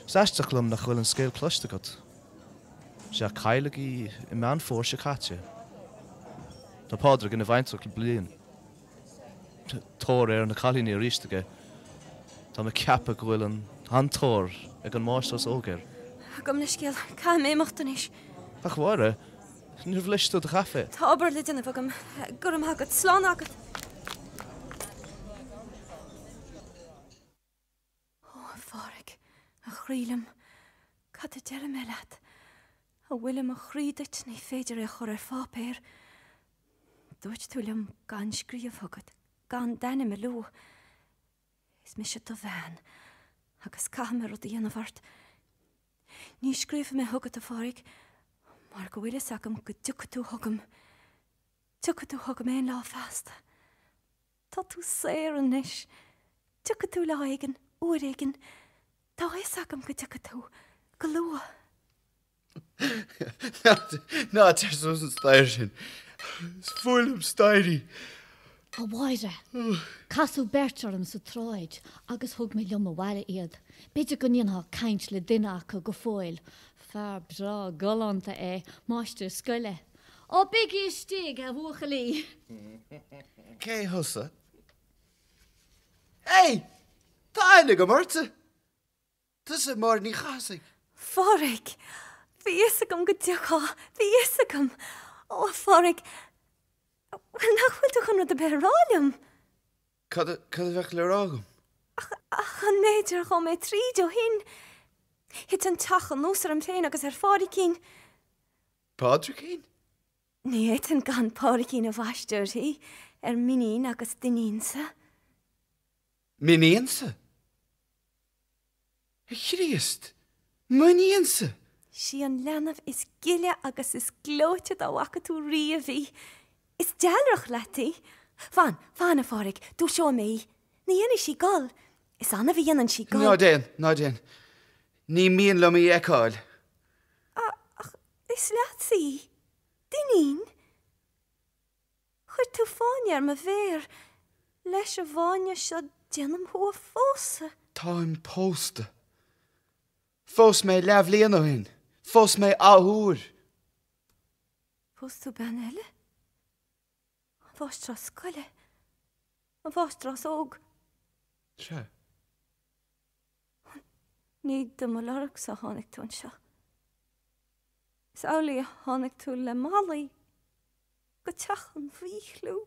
Is aisteach liom nach bhfuil an scéal cloiste agat. Is ea, cailleadh í i Meán Fómhair seo caite. Tá Pádraig ina bhaintreach le bliain. Tóir ar na cailíní arís aige. Tá mé ag ceapadh go bhfuil an-tóir ag an máistreás óg air. Gabh mo leithscéal, caithfidh mé imeacht anois. Ach, a Mháire! Níor bhlais tú do chaife? Tá obair le déanamh agam. Go raibh maith agat. Slán agat. Ó, a Phádraig, a chroí liom, cad a déarfaidh mé leat? A bhfuil i mo chroí duit ní féidir é a chur ar pháipéar. Dúirt tú liom gan scríobh chugat, gan d'ainm a lua. Is mise do bhean agus caithfidh mé rud a dhéanamh ort. Ní scríobhfaidh mé chugat, a Phádraig, mar go bhfuil a fhios agam go dtiocfaidh tú chugam. Tiocfaidh tú chugam aon lá feasta. Tá tú saor anois. Tiocfaidh tú lá éigin, uair éigin. Tá a fhios agam go dtiocfaidh tú, go luath. Ná téir suas an staighre sin. Is fuath liom staighrí. A Mháire, casadh beirt orm sa tsráid agus thug mé liom abhaile iad. B'fhéidir go ndéanfá caint le duine acu go fóill. Fear breá galánta é, máistir scoile. Ó, bígí istigh, a bhuachaillí. Cé thusa? Hey! Tá aithne agam ortsa! Tusa Máire Ní Chathasaigh? A Phádraig, bhí a fhios agam go dtiocfá, bhí a fhios agam. Ó, a Phádraig, bhuel, nach bhfuil tú chun rud ar bith a rá liom? Cad, cad a bheadh le rá agam? Ach, ach an méid ar ghabh mé tríd ó shin? Thit an teach anuas orm féin agus ar Phádraicín. Pádraicín? Ní fhéadfainn gan Pádraicín a bhaisteadh uirthi, ar m'inín agus d'inínse. M'iníonsa? A Chríost, m'iníonsa? Sí an leanbh is gile agus is gleoite dá bhfaca tú riamh í. Is dealrach leat í. Fan, fan, a Phádraig, dúiseoidh mé í. Ní dhéanfaidh sí gol. Is annamh a dhéanann sí gol. Ná déan, ná déan. Ní mian liom í a fheiceáil. Ach is leatsa í. D'iníon. Chuir tú fáinne ar mo mhéar. Leis an bhfáinne seo déanaim thú a phósadh. Táim pósta. Phós mé leathbhliain ó shin. Phós mé athuair. Phós tú bean eile? An mháistreás scoile? An mháistreás óg? Sea. Ní do mo lorgsa a tháinig tú anseo. Is amhlaidh a tháinig tú le Mailí go teach an mhíchliú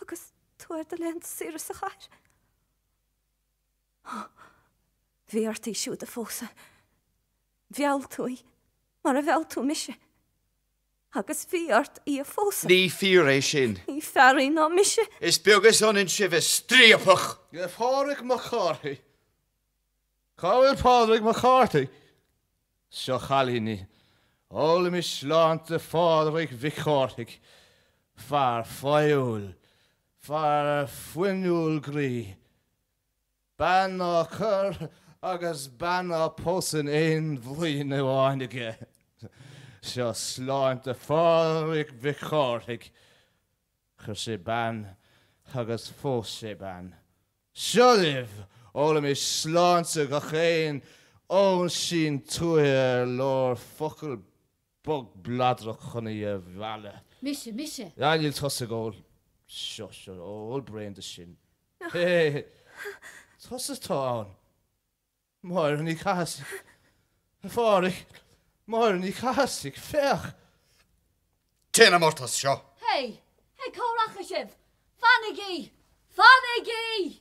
agus tú ar do laethanta saoire sa chathair. Ó, bhí ort í siúd a phósadh. Mheall tú í mar a mheall tú mise. Agus bhí ort í a phósadh. Ní fíor é sin. Ní fearr í ná mise. Is beag is ionann sibh, a striapach! Hé, a Phádraig Mac Cárthaigh. Cá bhfuil Pádraig Mac Cárthaigh? Seo, a chailíní. Ólaimis sláinte Phádraig Mhic Chárthaigh. Fear fearúil. Fear fuinniúil groí. Bean á cur agus bean á pósadh in aon bhliain amháin aige. Seo sláinte Phádraig Mhic Chárthaigh. Chuir sé bean agus phós sé bean. Seo libh! Ólaimis sláinte gach aon óinsín tuaithe ar leor focal bog bladrach chun í a mhealladh. Mise, mise! Ah, níl tusa ag ól. Seo, seo, ól braon de sin. Hé, tusa atá ann. Máire Ní Chathasaigh. A Phádraig, Máire Ní Chathasaigh, féach! Téanam ort as seo! Hé, hé, cá rachaidh sibh? Fanaigí! Fanaigí!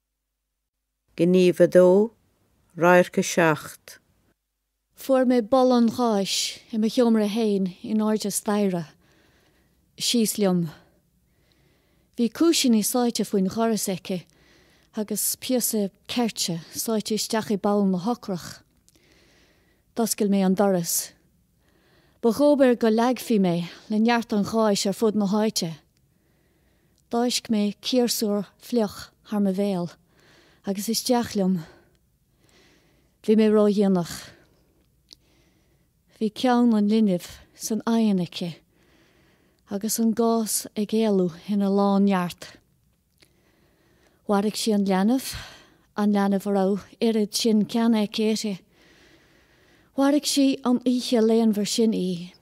Gníomh 2, Radharc 7. Fuair mé boladh an gháis i mo sheomra féin in airde staighre. Síos liom. Bhí cúisíní sáite faoin dhoras aici agus píosa ceirte sáite isteach i bpoll na heochrach. D'oscail mé an doras. Ba dhóbair go leagfaí mé le neart an gháis ar fud na háite. D'fháisc mé ciarsúr fliuch thar mo bhéal agus isteach liom. Bhí mé ródhéanach. Bhí ceann an linbh san oigheann aici agus an gás ag éalú ina lán-neart. Mharaigh sí an leanbh, an leanbh a raibh oiread sin ceana aici uirthi. Mharaigh sí an oíche léanmhar sin í.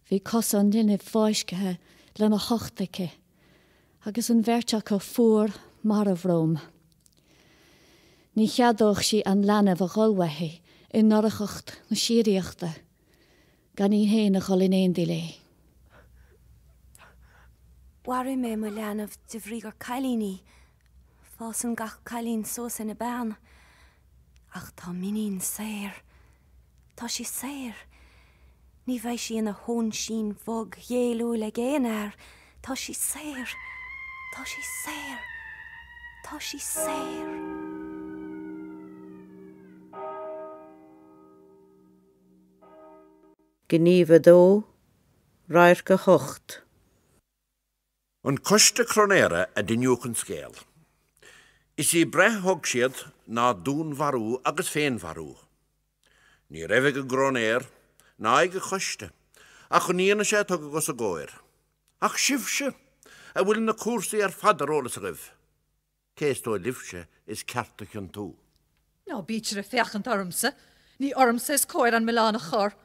Bhí cosa an linbh fáiscthe lena hucht aici agus an bheirt acu fuar marbh romham. Ní cheadódh sí an leanbh a dhul uaithi i ndorchacht na síoraíochta gan í féin a dhul in éindí léi. Mharaigh mé mo leanbh de bhrí gur cailín í. Fásann gach cailín suas ina bean. Ach tá m'iníon saor. Tá sí saor. Ní bheidh sí ina hóinsín bhog ghéilliúil ag aon fhear. Tá sí saor. Tá sí saor. Tá sí saor. Gníomh 2, Radharc 8, An coiste cróinéara a d'iniúch an scéal. Is í breith a thug siad ná dúnmharú agus féinmharú. Ní raibh ag an gcróinéir, ná ag an gcoiste, ach an fhianaise a tugadh os a gcomhair. Ach sibhse, a bhfuil na cúrsaí ar fad ar eolas agaibh! Cé is dóigh libhse is ceart a chiontú? Ná bítear ag féachaint ormsa. Ní ormsa is cóir an milleán a chur.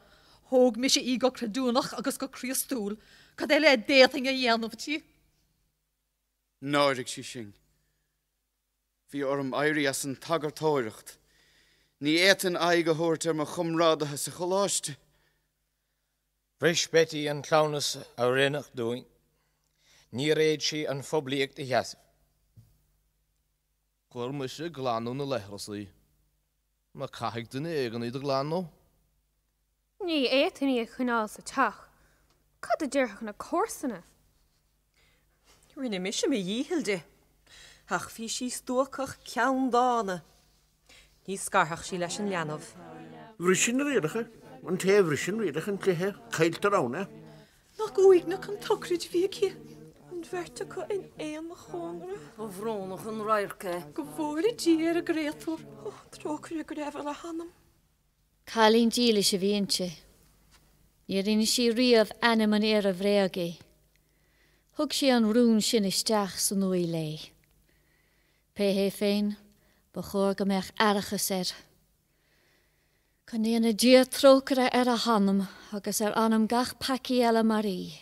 Thóg mise í go creidiúnach agus go críostúil. Cad eile a d'fhéadfainn a dhéanamh di? Náirigh sí sinn. Bhí orm éirí as an tsagartóireacht. Ní fhéadfainn aghaidh a thabhairt ar mo chomrádaithe sa choláiste. Bhris Beití an cleamhnas a rinneadh dúinn. Níor fhéad sí an phoiblíocht a sheasamh. Chuir mise ag glanadh na leithreas í. Nó caithfidh duine éigin iad a ghlanadh. Ní fhéadfainn í a choinneáil sa teach. Cad a déarfadh na comharsana? Rinne mise mo dhícheall di, ach bhí sí stuacach ceanndána. Ní scarfadh sí leis an leanbh. Bhris sí na rialacha. An té a bhriseann rialacha an chluiche, cailltear ann é. Nach uaigneach an tsochraid a bhí aici, an bheirt acu in aon chónra. Ba bhrónach an radharc é. Go bhfóire Dia ar an gcréatúr. Trócaire go raibh ar a hanam. Cailín dílis a bhí inti. Níor inis sí riamh ainm an fhir a bhréag í. Thug sí an rún sin isteach san uaigh léi. Pé hé féin, ba chóir go mbeadh aithreachas air. Go ndéana Dia trócaire ar a hanam agus ar anam gach peacaí eile mar í.